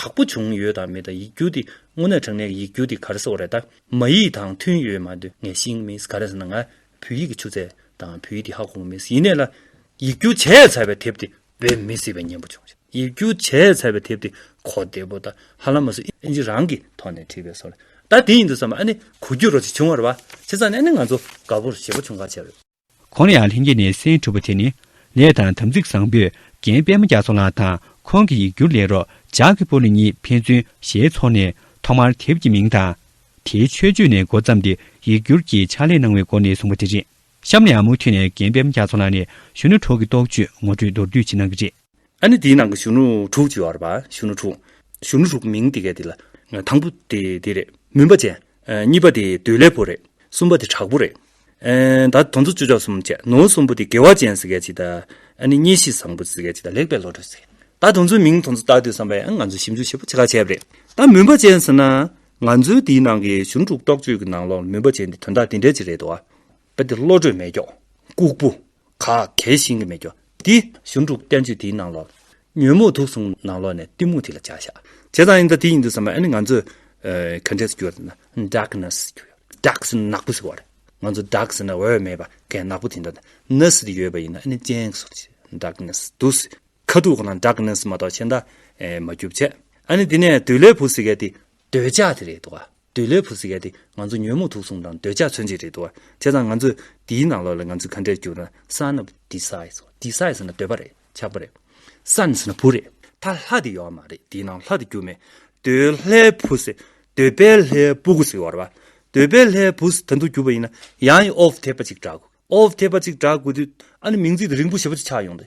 དག་པོ་བྱུང་ཡོད་དང་མེད་དང་ཡིག་སྒྱུར་དེ་དངོས་གནས་དྲང་གནས་ཀྱི་ཡིག་སྒྱུར་དེ་ག་རེ་སོགས་རེད་ད། མ་ཡིག་དང་མཐུན་ཡོད་མ་འདོད་ངས་ཤིང་མིན་ག་རེ་ཟེར་ན་ང་བོད་ཡིག་གི་ཆུ་ཚད་དང་བོད་ཡིག་དེ་ཧ་གོ་མ་མིན་ཡིན་ནས་ལ། ཡིག་སྒྱུར་བྱས་ཚར་བའི་དེབ་དེ་བེད་མི་སྲིད་པའི་ཉེན་པོ་བྱུང་ཞེས་ཡིག་སྒྱུར་བྱས་ཚར་བའི་དེབ་དེ་གོ་བདེ་པོ་ད་ཧ་ལམ་མ་སུ་ཨིན་ཇི་རང་གིས་ཐོག་ནས་བྲིས་པའི་སོ་ལ་ད་དེ་ཡིན་འདུག་བསམ་པ་ཨ་ནི་གོ་རྒྱུ་རོ་ཅིག་བྱུང་བར་བ་བྱེད་ས་ནི་ཨ་ནི་ང་ཚོ་དགའ་བོར་བྱེད་པོ་བྱུང་ག་བྱས་རོ། ཁོང་ལ་ཡང་ལྷན་སྐྱེས་ནས་སེམས་འཁྲུགས་པ་དེ་ནི། ལས་དང་དམ་ཚིག་བཟང་པོས་རྒན་པད་མ་རྒྱ་མཚོ་ལགས་དང་ཁོང་གི་ཡིག་སྒྱུར་ལས་རོགས་ཇག་གི་པོ་ལི་གཉིས་ཕན་ཚུན་ཞལ་འཚོ་ནས་ཐོག་མར་དེབ་ཀྱི་མིང་དང། དེའི་མཆོད་བརྗོད་ནས་འགོ་བརྩམས་ཏེ་ཡིག་སྒྱུར་གྱི་ཕྱག་ལས་གནང་བའི་སྒོ་ནས་བཟུང་བ་དེ་རེད། གཤམ་ལ་ཡང་མུ་མཐུད་ནས་རྒན་པད་མ་རྒྱ་མཚོ་ལགས་ནས་གཞོན་ནུ་གྲོགས་ཀྱི་རྟོགས་བརྗོད་ངོ་སྤྲོད་མདོར་བསྡུས་བྱེད་གནང་གི་རེད། ཨ་ནི་དེའི་ནང་གི་གཞོན་ནུ་དྲུག་ཅེས་པར་བར་གཞོན་ནུ་དྲུག། གཞོན་ནུ་དྲུག་མིང་དེ་གས་དེ་ལ། དང་པོ་དེ་དེ་རེད་མུན་པ་ཅན། གཉིས་པ་དེ་འདོད་ལས་པོ་རེད། གསུམ་པ་དེ་དྲག་པོ་རེད། ད་དོན་ཚོ་བཅུ་ཆ་གསུམ་བཅད་ནོ། གསུམ་པོ་དེ་དགེ་བ་ཅན་ཟེར་གས་ཅི་ད། ཨ་ནི་གཉེན་བཤེས་བཟང་པོ་ཟེར་གས་ཅི་ད་ལེགས་པའི་བློ་གྲོས་ཟེར་གས། ད་དོན་ཚོའི་མིང་དོན་ཚོ་བཏགས་དུས་བསམ་པའི་ཨ་ང་ཚོས་ཞིབ་འཇུག་བྱེད་པོ་ཆེ་ཁག་བྱས་པ་རེད། ད་མུན་པ་ཅན་ཟེར་ན། ང་ཚོའི་དེའི་ནང་གི་གཞོན་ནུ་དྲུག་རྟོགས་བརྗོད་ཀྱི་ནང་ལོགས་ལ་མུན་པ་ཅན་དེ་དོན་དག་དེ་འདྲས་ཅིག་རེད་དོ། པ་འདི་བློ་གྲོས་མེད་སྐྱོགས་ལྐུགས་པོ། ག་གལ་ཤིང་གི་མེད་སྐྱོགས་འདི། གཞུང་དྲུག་བསྟན་བཅོས་དེའི་ནང་ལོགས། ཉོན་མོངས་དུག་གསུམ་ནང་ལོགས་ནས་གཏི་མུག་དེ་ལ་བྱ་བཞག་བྱས་ཙང་ཡིན་ད་དེ་ཡིན་འདུག་བསམ་པ་ཨ་ནི་ང་ཚོས་ག་འདྲས་སུ་གྱུར་ན darkness གྱུར་ཡོད dark ཟེར་ན་ནག་པོ་ཟེར་བ་རེད་ང་ཚོ dark ཟེར་ན་འོད་མེད་པ་གས་ནག་པོ་དེ་འདྲ་དང ness དེ་ཡོད་པ་ཡིན་ན་ཨ་ནི་སྤྱན་ཟུར་ཆེ darkness དུག་ཟེར་ཁ་དུག་གང་ན darkness མ་གཏོགས་ཕྱེ་མདའ་མ་རྒྱུ་བྱེད་ཨ་ནི་དེ་ནས་དུས་ལས་བུ་ཟེར་མཁན་དེ་འདོད་ཆགས་དེ་རེད་དོ། འདོད་ལོས་བུ་ཟེར་ཡ་དེ་ང་ཚོ་ཉོན་མོངས་དུག་གསུམ་དང་འདོད་ཆགས་མཚོན་བྱེད་རེད་དོ། བྱས་ཙང་ང་ཚོས་དེའི་ནང་ལོགས་ལ་ང་ཚོས་ག་འདྲས་བསྒྱུར་ན Son of Desire། Desire ཟེར་ན་འདོད་པ་རེད་ཆགས་པ་རེད། Son ཟེར་ན་བུ་རེད། ད་ལྷ་དེ་ཡོད་མ་རེད་དེའི་ནང་ལྷ་དེ་རྒྱུ་མེད། འདོད་ལྷའི་བུ་ཟེར། འདོད་པའི་ལྷའི་བུ་གུ་ཟེར་བ་རེད། འདོད་པའི་ལྷའི་བུ་ཟེར་ད་དུང་རྒྱུ་བ་ཡིན་ན་ཡང་ཡི Of ཐེག་པ་གཅིག་བསྒྲག་དགོས། Of ཐེག་པ་གཅིག་བསྒྲག་དགོས་དུས་ཨ་ནི་མིང་ཚིག་དེ་རིང་པོ་ཞེ་པོ་ཆགས་ཡོང་དུས།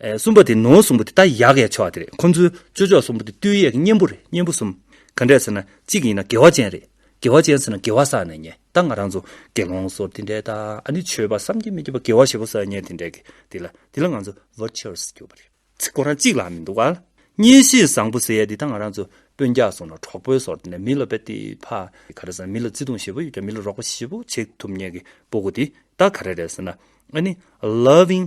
གསུམ་པ་དེ་ནོར་གསུམ་པོ་དེ་ད་ཡག་གེ་ཆོག་དེ་རེད་ཁོང་ཚོའི་སྤྱོད་ཕྱོགས་གསུམ་པོ་དེ་བསྟུད་ཡས་ཀྱི་གཉེན་པོ་རེད་གཉེན་པོ་གསུམ་ག་འདྲས་ཟེར་ན་གཅིག་ཡིན་ན་དགེ་བ་ཅན་རེད་དགེ་བ་ཅན་ཟེར་ན་དགེ་བ་བསགས་ནས་ཉེས་ད་ང་རང་ཚོ་དགེ་སློང་ཚོར་དེ་འདྲས་ད་ཨ་ནི་ཆོས་པ་བསམ་གྱི་མི་འགྱུར་བ་དགེ་བ་བཞི་པོ་བསགས་ཉེས་དེ་འདྲས་ཀྱི་དེ་ལ་དེ་ལ་ང་ཚོ virtuous གྱུར་པ་རེད་ཚིག་ཁོ་རང་གཅིག་ལ་མི་འདུག་ཨ་མྱི་གཤིས་བཟང་པོ་ཟེར་ཡས་དེ་ད་ང་རང་ཚོ་དཔོན་རྒྱག་སོང་ན་གྲོགས་པོའི་ཟོར་དེ་ནས་མི་ལ་བེད་དེ་ཕ་ག་རེ་ཟེར་ན་མི་ལ་བརྩི་དུང་བཞི་པོ་ཡོད་ཀྱང་མི་ལ་རོགས་པ་བཞི་པོ་བྱེད་ཐུབ་ཉེས་ཀྱི་པོ་གོ་དེ་ད་ག་རེ་རེད་ཟེར་ན་ཨ་ནི loving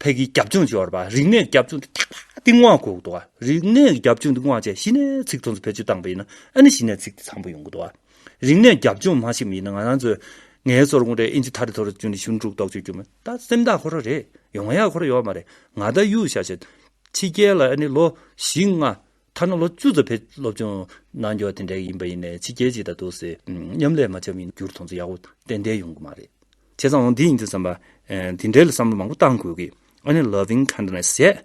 ཕས་ཀྱི་རྒྱབ་ལྗོངས་སྦྱོར་བ་རིག་གནས་རྒྱབ་ལྗོངས་ཀྱི་ཁྱད་པར་སྟེང་དབང་གོག་ཏུ། རིག་གནས་ཀྱི་རྒྱབ་ལྗོངས་སྟེང་དབང་བཅས་གཞི་ནས་ཚིག་མཚོན་ཚུལ་བེད་སྤྱོད་བཏང་པས་ན་ཨ་ནི་གཞི་ནས་ཚིག་དེ་ཚང་པོ་ཡོང་གོ་ཏུ། རིག་གནས་རྒྱབ་ལྗོངས་མ་ཞིག་མིན་ན་ང་རང་ཚོས་ངའི་སོར་མོ་རེ་ཨིན་ཇི་ཐ་རི་ཐོ་རུ་བཅུག་ནས་ཞུན་ཀྲུག་ཏོག་ཅོག་རྒྱུ་མེད་ད་སེམས་ཐག་ཁོ་ར་རེད་ཡོང་ཡག་ཁོ་ར་ཡོད་མ་རེད་ང་ད་གཡུག་བཞག་བྱས། ཕྱི་རྒྱལ་ལ་ཨ་ནི་ལོ་བཞི་ལྔ་ཐ་ན་ལོ་བཅུ་ཙམ་བེད་སློབ་སྦྱོང་གནང་རྒྱུ་བ་དེ་འདྲ་ཡིན་པ་ཡིན་ནས་ཕྱི་རྒྱལ་ཅིག་དང་འདུག་སའི་མཉམ་ལས་མ་བྱ་མི་འགྱུར་དོན་ཚོ་ཡག་པོ་ཏན་ཏན་ཡོང་གི་མ་རེད། བྱས་ཙང་འོང་དེ་ཡིན་དུས་བསམ་པ། དེ་འདྲའི་ལ་བསམ་བློ་མང་པོ་གཏང་དགོས་ཀི་ཨ་ནི Loving Kindness ཟེར།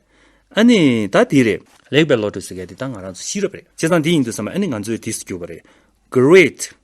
ཨ་ནི་ད་དེ་རེད། ལེགས་པའི་བློ་གྲོས་ཟེར་མཁན་དེ་ད་ང་རང་ཚོའི་ཤེས་རབ་རེད། བྱས་ཙང་དེ་ཡིན་དུས་བསམ་པ་ཨ་ནི་ང་ཚོའི་དེ་སུ་གྱུར་བ་རེད། Great།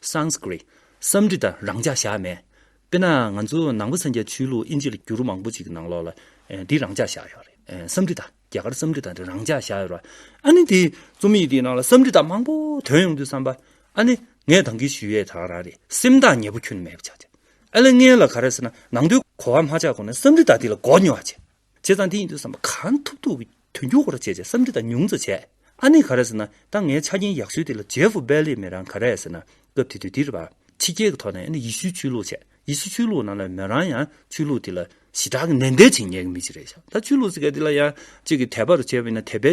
Sanskrit། བསམ་འདྲི་དང་རང་འཇགས་བཞག་མེད། དཔེར་ན་ང་ཚོ་ནང་པ་སངས་རྒྱས་ཆོས་ལུགས་ཨིན་ཇི་ལ་བསྒྱུར་མང་པོ་ཅིག་གི་ནང་ལོགས་ལ་འདི་རང་འཇགས་བཞག་ཡོད་རེད། བསམ་འདྲི་དང་རྒྱ་གར་བསམ་འདྲི་དང་འདི་རང་འཇགས་བཞག་ཡོད་རེད། ཨ་ནི་དེ་རྩོམ་ཡིག་འདིའི་ནང་ལ་བསམ་འདྲི་དང་མང་པོ་དོན་ཡོང་དུས་བསམ་པ། ཨ་ནི་ངས་དང་གི་ཞུ་ཡས་དང་རང་རེད་སེམས་ཐག་ཉེ་པོ་ཁྱོད་ནི་མེད་པ་ཆགས་ཅིག། ཨ་ལེ་ངས་ལ་ག་རེ་ཟེར་ན་ནང་དོན་གོ་བ་མ་ཆགས་གོང་ནས་བསམ་འདྲི་དང་འདི་ལ་མགོ་ཉོ་བ་བྱེད། བྱས་ཙང་དེ་ཡིན་དུས་བསམ་པ་གང་ཐུབ་ཐུབ་ཀྱིས་དོན་འཁྱོལ་འཁོར་ར་བྱས་ཅེས་བསམ་འདི་དང་ཉུང་བཙོ་བྱས། ཨ་ནེ་ག་རེ་ཟེར་ན་ད་ངའི་ཆ་རྐྱེན་ཡག་ཚུལ་དེ་ལ་ཇེ་ཧྥུ་བེ་ལིས་མེ་རང་ག་རེ་ཟེར་ན་སྐབས་དེ་དུས་དེ་རེད་པ། ཕྱི་རྒྱལ་གྱི་ཐོག་ནས་ཨ་ནེ་ཡི་ཤུའི་ཆོས་ལུགས་བྱས། ཡི་ཤུ་ཆོས་ལུགས་ནང་ལ་མོ་རང་ཡང་ཆོས་ལུགས་དེ་ལ་ཞི་དྲག་གི་ནན་ཏན་བྱེད་ངེས་ཀྱི་མི་ཅིག་རེད་བཞག་ད་ཆོས་ལུགས་ཟེར་མཁན་དེ་ལ་ཡང་གཅིག་གིས་དད་པ་རུ་བྱས་པ་ཡིན་ན་དད་པའི་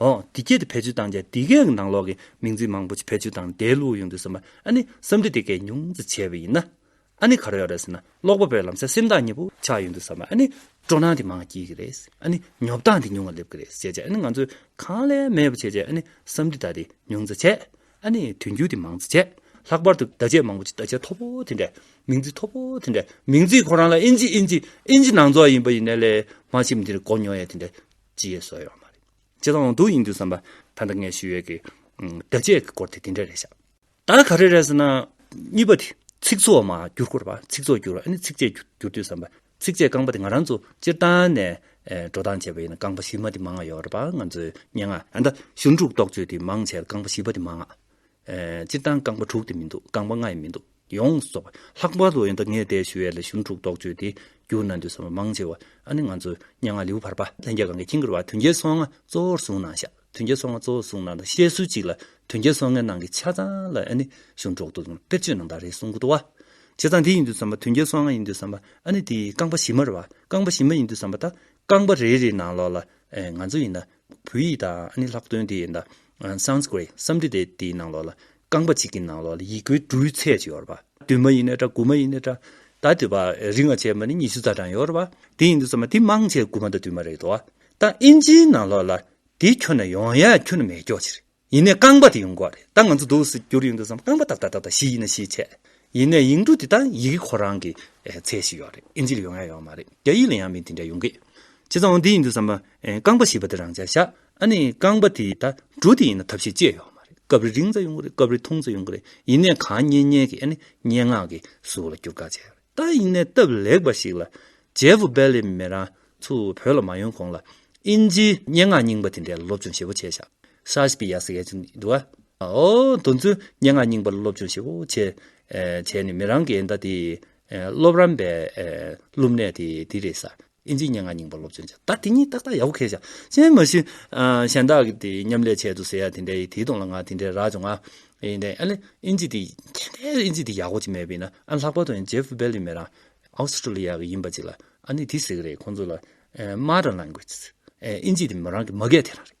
འོ། འདི་སྐད་དུ་བེད་སྤྱོད་བཏང་རྗེས་འདི་སྐད་ཀྱི་ནང་ལོགས་ཀྱི་མིང་ཚིག་མང་པོ་ཞིག་བེད་སྤྱོད་བཏང་ནས་དེའི་ལུགས་ཡོང་དུས་བསམ་པ་ཨ་ནི་བསམ་འདྲི་དེ་སྐད་ཉུང་ཙམ་བྱས་པ་ཡིན་ན་ཨ་ནི་ག་རེ་ཡོད་རེད་ཟེར་ན་ཀློག་པ་པོའི་ལམ་སེང་སེམས་ཐག་ཉེ་པོ་ཆགས་ཡོང་དུས་བསམ་པ་ཨ་ནི་སྤྲོ་སྣང་དེ་མང་བ་སྐྱེས་ཀྱི་རེད་ཨ་ནི་ཉོབ་སྟངས་དེ་ཉུང་བ་སླེབས་ཀྱི་རེད་བྱས་རྗེས་ཨ་ནི་ང་ཚོས་གང་ལས་མེད་པ་བྱས་རྗེས་ཨ་ནི་བསམ་འདྲི་དག་དེ་ཉུང་ཙམ་བྱས་ཨ་ནི་དུས་འགྱུར་དེ་མང་ཙམ་བྱས་ལྷག་པར་དུ་བརྡ་ཆད་མང་པོ་ཞིག་བརྡ་ཆད་མཐོ་པོ་དེ་འདྲས་མིང་ཚིག་མཐོ་པོ་དེ་འདྲས་མིང་ཚིག་ཁོ་རང་ལ་ཨིན་ཇི་ཨིན་ཇི་ཨིན་ཇི་ནང་རྫོགས་ཡིན་པ་ཡིན་ན་ལས་མ་ཕྱི་མི་དེ་འདྲས་གོ་མྱོང་ཡས་དེ་འདྲས་ཅི་ཡོད་བཟོ་ཡོད་མ་རེད། ཇི་ལྟ་འོང་སྡུག་ཡིན་དུས་བསམ་པ། ད་ལྟ་ངས་ཞུ་ཡོད་ཀྱི། བརྡ་ཆད་ཀྱི་སྐོར་དེ་དེ་འདྲ་རེད་བཞག། ད་ག་རེ་རེད་ཟེར་ན། གཉིས་པ་དེ། ཚིག་ཚོགས་མ་བསྒྱུར་སྐོར་བ། ཚིག་ཚོགས་བསྒྱུར་བ་ཨ་ནི་ཚིགས་བཅད་བསྒྱུར་དུས་བསམ་པ། ཚིགས་བཅད་རྐང་པ་དེ་ང་རང་ཚོ་སྤྱིར་བཏང་ནས། འགྲོ་སྟངས་བྱས་པ་ཡིན་ན་རྐང་པ་བཞི་མ་དེ་མང་ང་ཡོད་རེད་པ་ང་ཚོའི་སྙན་ངག། ད། ཞུན་དྲུག་རྟོགས་བརྗོད་དེ་མང་བྱས་ལ་རྐང་པ་བཞི་པ་དེ་མང་ང། སྤྱིར་བཏང་རྐང་པ་དྲུག་དེ་མི་འདུག་རྐང་པ་ལྔ་ཡང་མི་འདུག་ཡོངས་རྫོགས་པ། ལྷག་པར་དུ་ཡོན་བདག་ངས་བལྟས་ཞུ་ཡས་ལ་གཞུང་དྲུག་རྟོགས་བརྗོད་དེ་བསྒྱུར་ན་འདོད་བསམ་མང་ཆེ་བ་ཨ་ནི་ང་ཚོ་སྙན་ངག་ལེའུ་བར་པ་ལྷན་རྒྱས་གང་གི་ཁྱིང་གི་རུ་བ་དོན་གྱི་སོ་ལྔ་གཙོ་བོར་བཟུང་ན་ཤ་དོན་གྱི་སོ་ལྔ་གཙོ་བོར་བཟུང་ན་དང་བཤད་སྲོལ་གཅིག་ལ་དོན་གྱི་སོ་ལྔའི་ནང་གི་ཆ་ཚང་ལ་ཨ་ནི་གཞུང་དྲུག་ཏུ་དཔེར་བརྗོད་གནང་དག་རེད་གསུང་གི་འདུག་བ། བྱས་ཙང་དེ་ཡིན་དུས་བསམ་པ་དོན་གྱི་སོ་ལྔ་ཡིན་དུས་བསམ་པ་ཨ་ནི་དེ་རྐང་པ་བཞི་མ་རུ་བ་རྐང་པ་བཞི་མ་ཡིན་དུས་བསམ་པ་ད་རྐང་པ་རེ་རེའི་ནང་ལོགས་ལ་ཨེ་ང་ཚོ་ཡིན་ན་བོད་ཡིག་དང་ཨ་ནི་ལྷག་དོན་དེ་ཡི་ནང Sanskrit སམ་འབྲི་དེ་དེའི་ནང་ལོགས་ལ་རྐང་པ་གཅིག་གི་ནང་ལོགས་ལ་ཡིག་མགོའི་འབྲུའི་ཚད་ཅིག་ཡོད་རེད་པ། བདུན་མ་ཡིན་ནའི་འདྲ་དགུ་མ་ཡིན་ནའི་འདྲ། ད་དེ་བ་རིགས་ང་བྱས་པ་ནི་ཉི་ཤུ་རྩ་གྲངས་ཡོད་རེད་པ། དེ་ཡིན་དུ་ཚང་མ་དེ་མང་ཆེ་དགུ་མ་དང་བདུན་མ་རེད་དོ། ད་ཨིན་ཇིའི་ནང་ལོགས་ལ་དེ་ཁྱོན་ན་ཡོང་ཡ་ཁྱོན་ན་མེད་ཀྱོག་ཅིག་རེད། ཡིན་ནས་རྐང་པ་དེ་ཡོང་གོ་རེད་ད་ང་ཚོ་འདུག་ཟེར་རྒྱུར་ཡོང་དུས་སམ་རྐང་པ་ཏག་ཏག་ཏག་ཏག་བཞི་ཡིན་ན་བཞི་བྱས། ཡིན་ནས་ཡིག་འབྲུ་དེ་དག་ཡི་གེ་ཁོ་རང་གི་ཚད་ཞིག་ཡོད་རེད་ཨིན་ཇི་ལ་ཡོང་ཡ་ཡོད་མ་རེད་རྒྱ་ཡིག་ལ་ཡང་མི་དེ་འདྲ་ཡོང་གི། བྱས་ཙང་འོ་འདི་ཡིན་དུས་སམ། རྐང་པ་བཞི་པ་དེ་རང་ཅག་བཞག་ཨ་ནི་རྐང་པ་དེ་དག་འབྲུ་དེ་ཡིན་ན་ཐབས་ཤེས་ཅི་ཡང་ཡོད་མ་རེད་སྐབས་རེ་རིང་ཙམ་ཡོང་གི་རེད་སྐབས་རེ་ཐུང་ཙམ་ཡོང་གི་རེད་ཡིན་ནས་གང་སྙན་སྙན་གྱི་ཨ་ནི་སྙན་ངག་གི་གཟུགས་ལ་བསྒྱུར་དགའ་བྱས་ཡོད་རེད། ཏཱ་དབྱིན་ནས་སྟབས་ལེགས་པ་ཞིག་ལ་ཇེ་ཕུ་བེ་ལི་མེ་རང་ཚུ་བོད་ལ་མ་ཡོང་གོང་ལ་དབྱིན་ཇིའི་སྙན་ངག་རྙིང་པ་དེ་འདྲའི་སློབ་སྦྱོང་ཞེ་བོ་བྱས་ཤག་ཧྲ་ཤི་པི་ཡ་སི་གེ་ཅིན་དུ་ཨ་ཨོ་དོ་ཚུལ་སྙན་ངག་རྙིང་པ་སློབ་སྦྱོང་ཞེ་བོ་བྱས་བྱས་ནས་མེ་རང་གི་ཨེ་འདའ་དེ་སློབ་རམས་པའི་སློབ་གནས་དེ་དེ་རེད་ས། དབྱིན་ཇིའི་སྙན་ངག་རྙིང་པ་སློབ་ཚོན་བྱ། ད་དེ་གཉིས་ཏག་ཏག་ཡག་པོ་ཁས་བཞག། གཞན་མ་གཞི། གཞན་དག་གི་དེ་མཉམ་ལས་བྱས་འདུག་ཟེར་ཡ་དེ་འདྲའི་དེའི་དོན་ལ་ང་དེ་འདྲའི་རག་བྱུང་ང། ཡིན་ཏེ། ཨ་ལེ། དབྱིན་ཇི་དེ། དེ་འདྲའི་དབྱིན་ཇི་དེ་ཡག་པོ་ཅིག་མེད་པས་ན། ཨ་ལྷག་པར་དུ་ཨན་ཇེབ་བྷེ་ལི་མེ་རང། Australia། གི་ཡིན་པ་ཅིག་ལ། ཨ་ནི་དེ་ཟེར་གི་རེད་ཁོང་ཚོ་ལ། Mother Language། དབྱིན་ཇི་དེ་མོ་རང་གི་མ་སྐད་དེ་རང་རེད།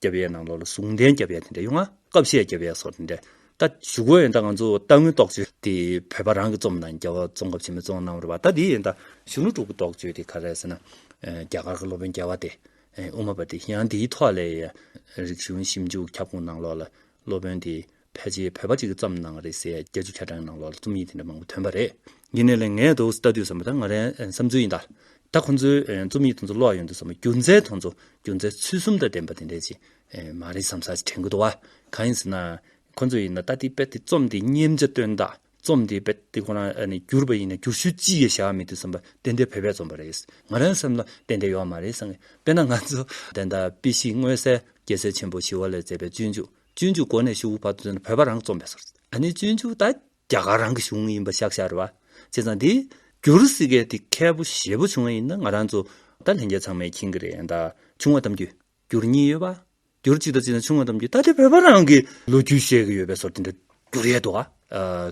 རྒྱ་བལ་ནང་ལོག་ལ་ཟུང་ལྡན་རྒྱ་བལ་དེ་འདྲ་ཡོང་ང་སྐབས་བཤད་རྒྱ་བལ་སོགས་དེ་འདྲ་ད་བཞུགས་གོ་ཡོད་ད་ང་ཚོ་སྟག་མོའི་རྟོགས་བརྗོད་དེ་བོད་པ་རང་གི་རྩོམ་དང་རྒྱ་བ་རྩོམ་སྐབས་ཆེན་མོའི་རྩོམ་གནང་བར་བ་ད་དེ་ད་གཞུང་ལུགས་དྲུག་གི་རྟོགས་བརྗོད་དེ་ག་རེ་ཟེར་ན་རྒྱ་གར་གི་སློབ་དཔོན་རྒྱལ་བ་སྟེ་དབུ་མ་པ་དེ་ཡང་དེའི་ཐོག་ལས་རིག་གཞུང་ཞིབ་འཇུག་ཁྱབ་ཁོངས་ནང་ལོག་ལ་སློབ་དཔོན་དེ་ཕལ་ཆེར་བོད་པ་གཅིག་གི་རྩོམ་ནང་རེད་ཟེར་རྒྱ་ཆུ་ཁ་གྲངས་ནང་ལོགས་ལ་རྩོམ་ཡིག་དེ་འདྲ་མང་པོ་ཐོན་པ་རེད། ཡིན་ནའི་ལན་ངས་དོགས་སུ་ལྟ་དུས་བསམ་པ་ད་ང་རང་བསམ་ཚུལ་ཡིན་ད། ད་ཁོང་ཚོའི་རྩོམ་ཡིག་དང་ཚོ་ལོགས་ཡོང་དུས་བསམ་པ་རྒྱུ་མཚན་དང་ཚོ་རྒྱུ་མཚན་ཚུལ་གསུམ་དང་ལྡན་པ་དེ་འདྲ་ཅིག་མ་རེད་བསམ་ས་ཅིག་དྲན་གི་འདུག་བ། གང་ཡིན་ཟེར་ན། ཁོང་ཚོ་ཡིན་ན་ད་དེ་དཔེ་དེ་རྩོམ་དེ་སྙེམས་བྱ་སྟོན་ད། རྩོམ་དེ་དཔེ་དེ་ཁོ་རང་ནས་བསྒྱུར་བ་ཡིན་ན་བསྒྱུར་ཤུལ་ཅི་ཡོད་བྱ་བ་མེད་དུས་བསམ་པ་དེ་འདྲའི་བོད་པའི་རྩོམ་པ་རེད་ང་རང་སེམས་ལ་དེ་འདྲ་ཡོད་མ་རེད་བསམ་གི་དཔེར་ན་ང་ཚོ། དེ་ལྟར་དཔེ་གཞིས་དངོས་གསལ་རྒྱལ་སྲས་ཆེན་པོ་ཞི་བ་ལས་མཛད་པའི་སྤྱོད་འཇུག་སྤྱོད་འཇུག་སྒོ་ནས་ཞུ་བ་བར་དུ་བོད་པ་རང་རྩོམ་པས་སོར་ཨ་ནེ་སྤྱོད་འཇུག་དང་རྒྱ་གར་རང་གི་གཞུང་ཡིན་པ་ཤག་ཤག་རེད་བ། བྱས་ཙང་དེ་བསྒྱུར་སྲིད་མཁན་དེ་མཁས་པོ་ཞེ་པོ་བྱུང་བ་ཡིན་ན་ང་རང་ཚོ་ད་ལྷན་རྒྱས་ཚང་མས་མཁྱེན་གི་རེད་ད་ཆུང་བ་དམ་རྒྱུད་བསྒྱུར་གཉིས་ཡོད་བ། བསྒྱུར་གཅིག་དང་བཅས་ན་ཆུང་བ་དམ་རྒྱུད་ད་དེ་བོད་པ་རང་གི་ལོ་རྒྱུས་བཤད་གི་ཡོད་པས་སོར་དེ་འདྲ་བསྒྱུར་ཡས་འདུག་ཨ།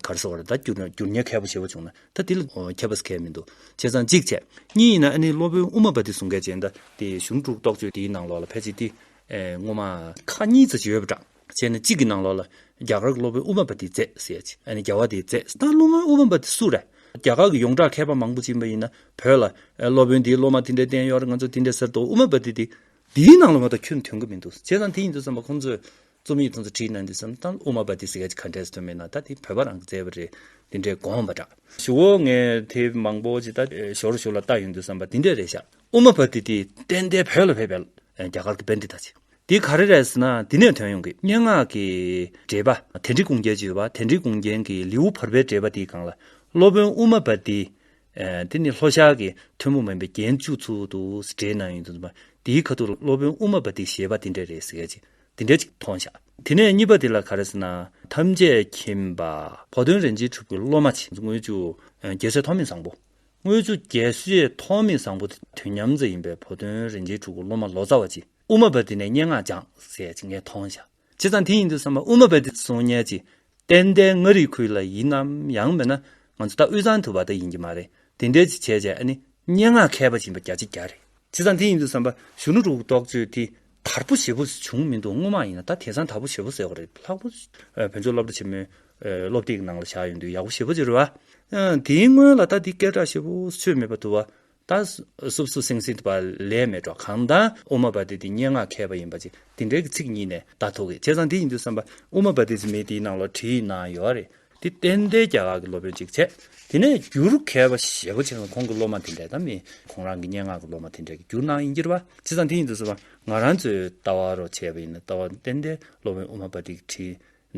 གར་སོ་བ་རེད་ད་བསྒྱུར་ན་བསྒྱུར་ཉེས་མཁས་པོ་ཞེ་པོ་བྱུང་ན་ད་དེ་ལ་མཁས་པ་ཟེར་མཁན་མི་འདུག་བྱས་ཙང་གཅིག་བྱས། གཉིས་ཡིན་ན་ཨ་ནེ་སློབ་དཔོན་དབུ་མ་པ་དེ་གསུང་མཁན་བྱས་ན་ད་དེ་གཞུང་དྲུག་རྟོགས་བརྗོད་དེའི་ནང་ལོགས་ལ་ཕལ་ཆེར་དེ་སྔོན་མ། ཁ་གཉིས་རྩ་ཆེ་བས་བཀྲག། བྱས་ན་གཅིག་གི་ནང་ལོགས་ལ། རྒྱ་གར་གྱི་སློབ་དཔོན་ཨུ་བམ་པ་ཏིའི་རྩེ་ཟེར་ཅིག་ཨ་ནི་རྒྱལ་བ་དེའི་རྩེ། ད་སློབ་དཔོན་ཨུ་བམ་པ་ཏི་སུ་རེད། རྒྱ་གར་གྱི་ཡོངས་གྲགས་མཁས་པ་མང་པོ་བྱིན་པ་ཡིན་ན་བོད་ལ། སློབ་དཔོན་འདིའི་སློབ་མ་དེ་འདྲའི་བསྟན་ཡོད་རེད་ང་ཚོ་དེ་འདྲའི་ཟེར་དུ་ཨུ་བམ་པ་ཏི་དེ། འདིའི་ནང་ལོགས་མ་གཏོགས་ཁྱོད་དོན་གྱི་མི་འདུག་བྱས་ཙང་དེ་ཡིན་འདུག་བསམ་པ་ཁོང་ཚོས། རྩོམ་ཡིག་དེ་ཚོ་བྲིས་ན་འདི་བསམ་ད་ཨུ་བམ་པ་ཏི་ཟེར་ག་ཅིག་ག་འདྲས་དོན་མེད་ན་ད་དེ་བོད་པ་རང་གི་རྩེ་བ་རེད། དེ་འདྲས་དགོངས་པ་འདྲ། ཞུ་འོ་ངས་དེ་མང་པོ་ཇི་ལྟ། ཞོར་ཞུ་ལ་ལྟ་ཡོད་འདུག་བསམ་པ་དེ་འདྲས་རེད་ཤག། ཨུ་མ་བྷ་ཏི་ཏི་གཏན་བདེ་བོད་ལ་ཕེབས་པའི་རྒྱ་གར་གྱི་དཔོན་དེ་དང་བཅས། འདི་ག་རེ་རེད་ཟེར་ན་འདི་ནས་དོན་ཡོང་གི་སྙན་ངག་གི་འགྲེལ་པ་དན་རི་གུང་རྒྱལ་གྱི་ཡོད་པ་དན་རི་གུང་རྒྱལ་གྱི་ལེའུ་བར་པའི་འགྲེལ་པ་དེའི་སྒང་ལ་སློབ་དཔོན་ཨུ་མ་བྷ་ཏི་དེ་ནི་ལྷོ་ཤར་གྱི་ཐུན་མོང་མིན་པའི་རྒྱན་བཅུ་ཚུལ་དུ་འགྲེལ་གནང་ཡོད་འདུག་འདུག་འདིའི་ཁ་ཐུག་ལ་སློབ་དཔོན་ཨུ་མ་བྷ་ཏི་ཞེས་པ་འདི་འདྲ་རེད་ཟེར་གྱི་འདི་འདྲ་ཅིག་མཐོང་བཞག་དེ་ནས་གཉིས་པ་དེ་ལ་ག་རེ་ཟེར་ན་ཐམས་ཅད་མཁྱེན་པ་བོ་དོན་རིན་ཆེན་གྲུབ་ཀྱི་སློབ་མ་ཆེན་མོ་དངུལ་ཆུ་རྒྱལ་སྲས་ཐོགས་མེད་བཟང་པོ་དངོས་གཙོ་རྒྱལ་སྲས་ཐོགས་མེད་བཟང་པོ་དེ་དུས་མཉམ་རྩེ་ཡིན་པའི་བུ་སྟོན་རིན་ཆེན་ཕྲུ་གུ་སློབ་མ་ལོ་ཙཱ་བ་གཅིག་དབུ་མ་པ་དེ་ནས་སྙན་ངག་སྦྱངས་ཟེར་གྱི་ངས་མཐོང་ཞག་བྱས་ཙང་དེ་ཡིན་འདུག་བསམ་པ་དབུ་མ་པ་དེ་གསུང་སྙན་གྱི་གཏེར་མདའི་མངའ་རིས་ཁུལ་ལ་ཡིན་ནམ་ཡང་མིན་ན་ང་ཚོ་ད་དབུས་གཙང་དུ་བ་ད་ཡིན་གྱི་མ་རེད་དེ་འདྲས་ཅིག་བྱས་བྱས་ཨ་ནི་སྙན་ངག་མཁས་པ་ཞིག་ཡིན་པ་རྒྱ་ཆེ་རྒྱ་རེད། ཚེ་ཚང་དེ་ཡིན་འདུག་བསམ་པ་གཞོན་ནུ་དྲུག་རྡོག་གཅོད་དེ་དར་པོ་ཞེ་པོ་བྱུང་མི་འདུག་སྔོན་མ་ཡིན་ན་ད་དེ་ཚང་དར་པོ་ཞེ་པོ་ཟེར་བ་རེད་ལྷག་པོ། བོན་ཆོས་སློབ་གྲྭ་ཆེན་མོའི་སློབ་སྟེགས་གི་ནང་ལ་བཞག་ཡོད་འདུག་ཡག་པོ་ཞེ་པོ་ཅི་རེད་བ། དེའི་སྔོན་ལ་ད་དེ་སྐད་གྲགས་ཞེ་པོ་ཆོད་མེད་པ་འདུག་བ། ད་སུབ་སུབ་སིང་སིང་བ་ལས་མེད་འགྲོ་གང་མདང་ཨུ་མ་བ་དེ་དེ་སྙན་ངག་མཁས་པ་ཡིན་པ་ཅིག་དེ་འདྲའི་གི་ཚིག་གཉིས་ནས་བརྡ་ཐོ་གི་ཚེ་ཚང་དེ་ཡིན་འདུག་བསམ་པ་ཨུ་མ་བ་དེ་ཚེ་མེད་དེའི་ནང་ལ་བྲིས་གནང་ཡོད་རེད་དེ་བསྟན་ཏེ་རྒྱ་གར་གྱི་སློབ་དཔོན་གཅིག་བྱས། དེ་ནས་རྒྱུ་རུ་ཁལ་པ་ཞེ་པོ་ཆེ་ན་ཁོང་གི་སློབ་མ་དེ་འདྲས་དམ་མིན་ཁོང་རང་གི་སྙན་ངག་གི་སློབ་མ་དེ་འདྲས་ཀྱི་རྒྱུ་སྣང་ཡིན་གྱུར་པ་ཇི་ཙམ་དེ་ཡིན་དུ་གསུངས་པ་ང་རང་ཚོའི་ལྟ་བ་རོ་བྱས་པ་ཡིན་ན་ལྟ་བ་བསྟན་ཏེ་སློབ་དཔོན་ཨུ་མ་པ་ཏིག་ཁྲི་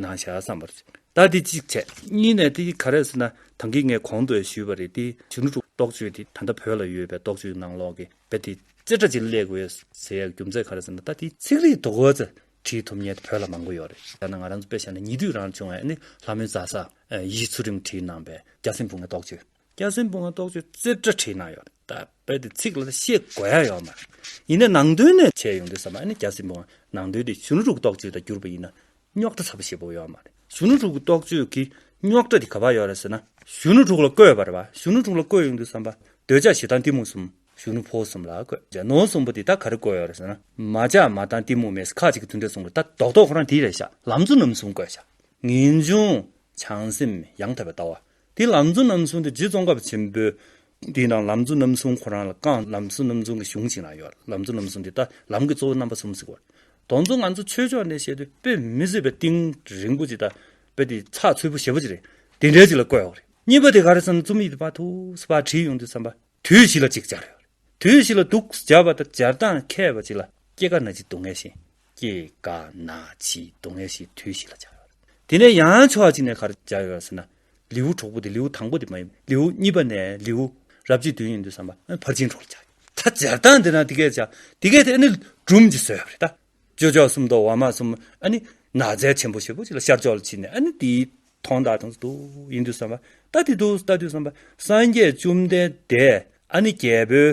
ན་བཞག་བསམ་པར་བྱས། ད་དེ་གཅིག་བྱས། གཉིས་ནས་དེ་ག་རེ་ཟེར་ན་དང་གིས་ངས་གོང་དུ་ཞུས་པ་རེད་དེ་གཞོན་ནུ་ཕྲུག་རྟོགས་བརྗོད་དེ་ད་ལྟ་བོད་ལ་ཡོད་པའི་རྟོགས་བརྗོད་ཀྱི་ནང་ལོག་གི་དཔེ་དེ་རྩེ་གྲ་ཅིག་བསླེག་དགོས་ཟེར་ཡ་གི་རྒྱུ་མཚན་ག་རེ་ཟེར་ན་ད་དེ་ཚིག་རིས་དོ་གོ་ཚེ་བྲིས་ཐུབ་ཉེས་དེ་བོད་ལ་མང་པོ་ཡོད་རེད་ཡང་ན་ང་རང་ཚོ་དཔེ་བཤད་ན་ཉེ་དུས་རང་བྱུང་བའི་ནི་ལྷ་མོའི་རྫ་ས། ཡིད་ཚུལ་རིང་བྲིས་གནང་པའི་སྐྱ་སེང་བུ་ངའི་རྟོགས་བརྗོད། སྐྱ་སེང་བུ་ངའི་རྟོགས་བརྗོད་རྩེ་གྲ་བྲིས་གནང་ཡོད་རེད། དཔེ་དེ་ཚིག་ལ་ཤེས་དགོས་ཡ་ཡོད་མ་རེད། ཡིན་ནའི་ནང་དོན་ནས་བྱས་ཡོང་དུས་ས་མ་ཨ་ནི་སྐྱ་སེང་བུ་ངའི་ནང་དོན་དེ་གཞོན་ལུགས་རྟོགས་བརྗོད་དང་བསྒྱུར་པ་ཡིན་ན་རྙོག་དྲ་ཚ་པོ་ཞེ་པོ་ཡོད་མ་རེད། གཞོན་ལུགས་རྟོགས་བརྗོད་ཀྱི་རྙོག་དྲ་དེ་ག་བར་ཡོད་རེད་ཟེར་ན། གཞོན་ལུགས་ལ་བཀོད་པ་རེད་བ། གཞོན་ལུགས་ལ་བཀོད་ཡོང་དུས་ས་མ། འདོད་ཆགས་ཞེ་སྡང་གཏི་མུག་གསུམ། གཞོན་ནུ་ཕོ་གསུམ་ལ་བསྐོས། ཇག་ནོར་གསུམ་པོ་དེ་ད་ག་རེ་བསྐོས་ཡོད་རེད་ཟེར་ན། མ་ཇག་མ་ཏང་གཏི་མུག་མེད་ས་ཁག་ཅིག་གི་མཐུན་འབྲེལ་ཚོགས་འདུར་ད་རྡོག་རྡོག་ཁོ་རང་དེ་རེད་བཞག་ལམ་གཙོ་རྣམ་གསུམ་བསྐོས་བཞག་ངེས་འབྱུང། བྱང་སེམས་ཡང་དག་པའི་ལྟ་བ། དེ་ལམ་གཙོ་རྣམ་གསུམ་དེ་རྗེ་ཙོང་ཁ་པ་ཆེན་པོའི། དེ་ན་ལམ་གཙོ་རྣམ་གསུམ་ཁོ་རང་ལ་བསྐངས་ལམ་གཙོ་རྣམ་གསུམ་གི་གཞུང་ཞིག་ན་ཡོད་ལམ་གཙོ་རྣམ་གསུམ་དེ་ད་ལམ་གི་གཙོ་བོ་རྣམ་པ་གསུམ་ཟིག་གོ། དོང་གཙོ་ང་ཚོ་ཆོས་ཕྱོགས་ནས་བཤད་དུས་དཔེ་མི་བཟོད་པའི་ཏིང་རིང་པོ་ཅིག་ད་དཔེ་དེ་ཚགས་ཚུད་པོ་ཞེ་པོ་ཅིག་རེད་དེ་འདྲ་ཅིག་ལ་བསྐོས་ཡོད་རེད་གཉིས་པ་དེ་ག་རེ་བསམ་ན་རྩོམ་ཡིག་དེ་པ་ཐུགས་སུ་པ་བྲིས་ཡོང་དུས་བསམ་པ། དུས་བཞི་ལ་ཅིག་སྦྱར། དུས་བཞི་ལ་དུག་སྦྱར་བ་དང་སྦྱར་སྟངས་མཁས་པ་ཅིག་ལ་སྐྱེ་རྒ་ན་འཆིའི་སྡུག་བསྔལ་ཞེས། སྐྱེ་རྒ་ན་འཆིའི་སྡུག་བསྔལ་ཞེས་དུས་བཞི་ལ་སྦྱར། དེ་ནས་ཡང་ཕྱོགས་གཅིག་ནས་གར་སྦྱར་ཡོད་ཟེར་ན། ལེའུ་གྲོགས་པོ་དེ་ལེའུ་དང་པོ་དེ་མ་ཡིན་པར་ལེའུ་གཉིས་པ་ནས་ལེའུ་རབ་རྗེས་བདུན་ཡིན་འདུག་བསམ་པ་ཕར་ཕྱིན་གྲོགས་ལ་སྦྱར་ཡོད། ད་སྦྱར་སྟངས་འདི་ན་དེ་སྐད་བྱ། དེ་སྐད་དེ་ནི་སྦྲུམ་གྱི་སྲོལ་ཡོད་པ་རེད་ད། ཅོ་ཅོ་གསུམ་དང་འོ་མ་གསུམ་ཨ་ནི། ན་བཟའི་ཆེན་པོ་ཞེས་པོ་ཅིག་ལ་ཤར་ཕྱོགས་ལ་ཕྱིན་ནས་ཨ་ནི་དེའི་ཐོང་ད་དང་དུ་ཡིན་དུས་བསམ་པ་ད་དེ་དུས་ད་དུས་བསམ་པ་སངས་རྒྱས་བཅོམ་ལྡན་འདས་ཨ་ནི་རྒྱལ་པོའི་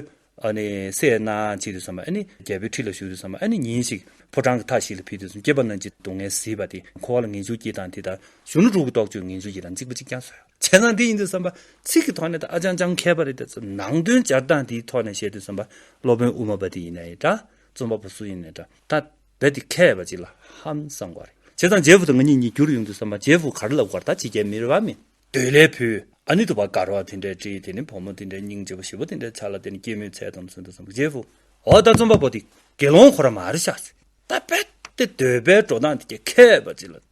ཨ་ནི་སྲས་རྣམས་ཕྱིན་དུས་བསམ་པ་ཨ་ནི་རྒྱལ་པོའི་ཁྲི་ལ་བཞུགས་དུས་བསམ་པ་ཨ་ནི་ཉིན་ཞིག་ཕོ་བྲང་གི་མཐའ་ཞིག་ལ་ཕུལ་དུས་སྐྱེས་པ་རྣམས་ཀྱི་སྡུག་བསྔལ་གཟིགས་པ་དེ་འཁོར་བ་ལ་ངེས་འབྱུང་སྐྱིད་དང་དེ་ལྟར་གཞོན་ནུ་དྲུག་གི་རྟོགས་བརྗོད་ངེས་འབྱུང་སྐྱིད་དང་གཅིག་པོ་གཅིག་རྐྱང་བཟོ་ཡང་བྱས་ཙང་དེ་ཡིན་དུས་བསམ་པ་ཚིག་གི་ཐོག་ནས་ད་ཨ་ཅང་ཅང་མཁས་པ་རེད་དེ་ནང་དོན་སྦྱར་སྟངས་དེའི་ཐོག་ནས་བཤད་དུས་བསམ་པ་སློབ་དཔོན་དབུ་མ་པ་དེ་ཡིན་ནའི་འདྲ་རྩོམ་པ་པོ་སུ་ཡིན་ནས་འདྲ་ད་རྦད་དེ་མཁས་པ་ཅིག་ལ་ཧམ་བསམ་དགོས་རེད་བྱས་ཙང་རྗེ་བོ་དང་ང་གཉིས་གཉིས་འགྱུར་ཡོང་དུས་བསམ་པ་རྗེ་བོ་གར་ལབ་དགོས་རེད་ད་ཕྱི་རྒྱལ་མི་རེ་བ་མི་འདོད་ལས་བུ་ཨ་ནི་དུ་བ་གར་བ་དེ་འདྲས་བཀྲིས་དེ་ནི་བུ་མོ་དེ་འདྲས་སྙིང་རྗེ་བོ་ཞི་བོ་དེ་འདྲས་ཆ་ལ་དེ་ནི་སྐྱེད་མོས་ཚལ་དང་མཚུན་དུ་བསམ་པ་རྗེ་བོ་འོ་ད་རྩོམ་པ་པོ་དེ་དགེ་སློང་ཁོ་ར་མ་རེད་ཤག་ཟེར་ད་རྦད་དེ་འདོད་པའི་འགྲོ་སྟངས་དེ་གྱ་མཁས་པ་ཅིག་ལ།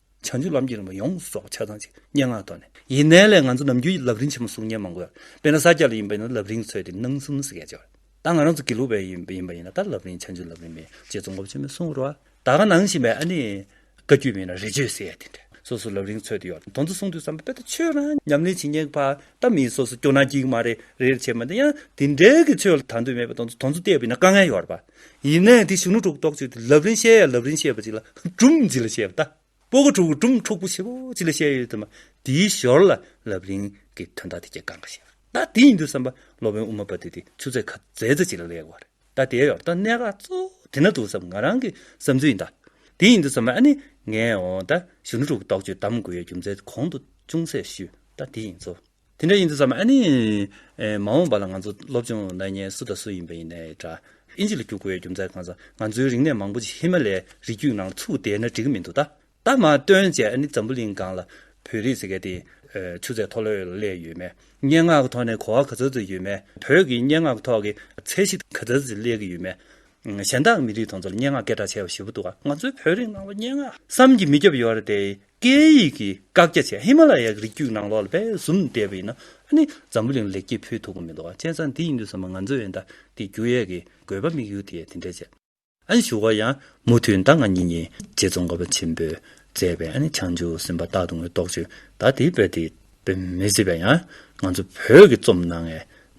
བྱང་ཆུབ་ལམ་གྱི་རིམ་པ་ཡོངས་སུ་རྫོགས་པ་ཆ་ཚང་གཅིག་སྙན་ངག་ཐོག་ནས་ཡིན། ནས་ལས་ང་ཚོ་ནམ་རྒྱུན་ལབ་རིན་ཆེན་མོ་གསུང་སྙན་མང་གོ། དཔེར་ན་ས་སྐྱ་ལ་ཡིན་པ་ཡིན་ན་ལབ་རིན་ཚོད་དེ་སྣང་གསུམ་ཟེར་མཁན་བྱོ། ད་ང་རང་ཚོ་དགེ་ལུགས་པའི་ཡིན་ཡིན་པ་ཡིན་ན་ད་ལབ་རིན་བྱང་ཆུབ་ལབ་རིན་མེད་ཅེས་རྫོང་སྒོམ་ཆེན་མོས་གསུང་རོ། ད་ག་ནང་བཞིན་པའི་ཨ་ནི། བཀའ་རྒྱུད་མེད་ན་རེ་བཅོལ་ཟེར་ཡ་དེ་འདྲ། སོ་སོ་ལབ་རིན་ཚོད་དེ་ཡོད་དོན་དུ་གསུང་དུས་བསམ་པ་དཔེ་ལྟ་ཆོས་རང་ཉམས་ལེན་བྱེད་སྙེག་པ་ད་མིན་སོ་སོ་སྐྱོ་ན་སྐྱིད་མ་རེད་རེད་བྱེད་མ་དེ་ཡང་དེ་འདྲའི་གི་ཆོས་ལ་དང་དོད་མེད་པ་དོན་དུ་དོན་ཚོ་བལྟས་པ་ཡིན་ན་དཀའ་ངལ་ཡོད་ར་པ། ཡིན་ནའི་དེ་གཞོན་ནུ་དྲུག་ཏོག་ཅིག་ལབ་རིན་བཤད་ཡ་ལབ་རིན་བཤད་པ་ཅིག་ལ་གྲུམ་གཅིག་ལ་བཤད་པ་ད། པོ་གོ་དྲུག་གྲུམ་འཁྲུག་པོ་ཆེ་པོ་ཅིག་ལ་བཤད་ཡོད་དུས་མ་དེའི་ཞོར་ལ་ལབ་རིན་གྱི་དོན་དག་དེ་ཁྱེད་གང་ག་བཤད་པ་ད་དེ་ཡིན་དུས་བསམ་པ་སློབ་དཔོན་དབུ་མ་པ་དེ་དེ་ཆུ་ཚད་ཁ་ཛེ་ཛེ་ཅིག་ལ་ལེགས་བ་རེད་ད་དེའི་ཡོར་ད་གནད་འགག་གཙོ་བོ་དེ་ན་འདུག་བསམ་ང་རང་གི་བསམ་ཚུལ་ཡིན་ད། དེ་ཡིན་དུས་བསམ་པ་ཨ་ནི་ངས་འོང་ད་གཞོན་ནུ་དྲུག་ཏོག་ཅིག་དམ་དགོས་ཡ་རྒྱུ་མཚན་དེ་གོང་དུ་ཅུང་ཟད་ཞུས་ད་དེ་ཡིན་བཟོ། དེ་འདྲ་ཡིན་དུས་སམ་ཨ་ནི། མ་འོངས་པ་ལ་ང་ཚོ་སློབ་སྦྱོང་གནང་མཁན་སུ་དང་སུ་ཡིན་པ་ཡིན་ནའི་འདྲ། ཨིན་ཇི་ལ་རྒྱུགས་དགོས་ཡོད་རྒྱུ་མཚན་གང་ཟག་ང་ཚོའི་རིག་གནས་མང་པོ་ཅིག་ཧི་མ་ལའི་རི་རྒྱུད་ནང་ཚུགས་བསྡད་ན་འགྲིག་གི་མི་འདུག་ད། ད་མ་སྟོན་བཅས་ཨ་ནི་འཛམ་བུ་གླིང་སྒང་ལ་བོད་རིགས་ཟེར་མཁན་དེ། ཆུ་ཚད་མཐོ་ལོས་ལ་སླེབས་ཡོད་མེད། སྙན་ངག་གི་ཐོག་ནས་གོ་བ་ག་ཚོད་ཚོད་ཡོད་མེད། བོད་ཀྱི་སྙན་ངག་གི་ཐོག་གི་ཚད་གཞི་ག་ཚད་ཚོད་སླེབས་ཀྱི་ཡོད་མེད། གཞན་དག་མི་རིགས་དང་ཚོ་ལ་སྙན་ངག་སྐད་གྲགས་ཆེ་བ་ཞེ་པོ་འདུག་ང་ཚོའི་བོད་རིགས་ནང་ལ་སྙན་ངག་བསམ་གྱིས་མི་ཁྱབ་ཡོད་རེད་དེ། སྐད་ཡིག་གི་བཀག་རྒྱ་བཅས་ཧི་མ་ལ་ཡའི་རི་རྒྱུད་ནང་ལོག་ལ་བས་ཟུམ་བསྡད་པ་ཡིན་ན་ཨ་ནི་འཛམ་བུ་གླིང་ལེགས་སྐྱེས་ཕུལ་ཐུབ་ཀྱི་མི་འདུག་ཨ་ཅེ་ས་འདི་ཡིན་དུས་ས་མ་ང་ཚོས་ཨན་ད་ཀི་རྒྱུ་ཡས་ཀྱི་དགོས་པ་དམིགས་ཡུལ་དེ་ཡས་དེ་འདྲས་བྱས། ཨ་ནི་ཞུ་བ་ཡང་མུ་མཐུད་ཟླ་ང་གཉིས་གཉིས་རྗེས་ཙོང་ཁ་པ་ཆེན་པོས་མཛད་པའི་ཨ་ནི་བྱང་ཆུ་སེམས་པ་རྟག་ཏུ་ངོས་རྟོགས་ཆུ་ད་ཏི་བོད་ཏི་བོད་མི་སི་པ་ཡང་ང་ཚོ་བོད་ཀྱི་རྩོམ་ནང་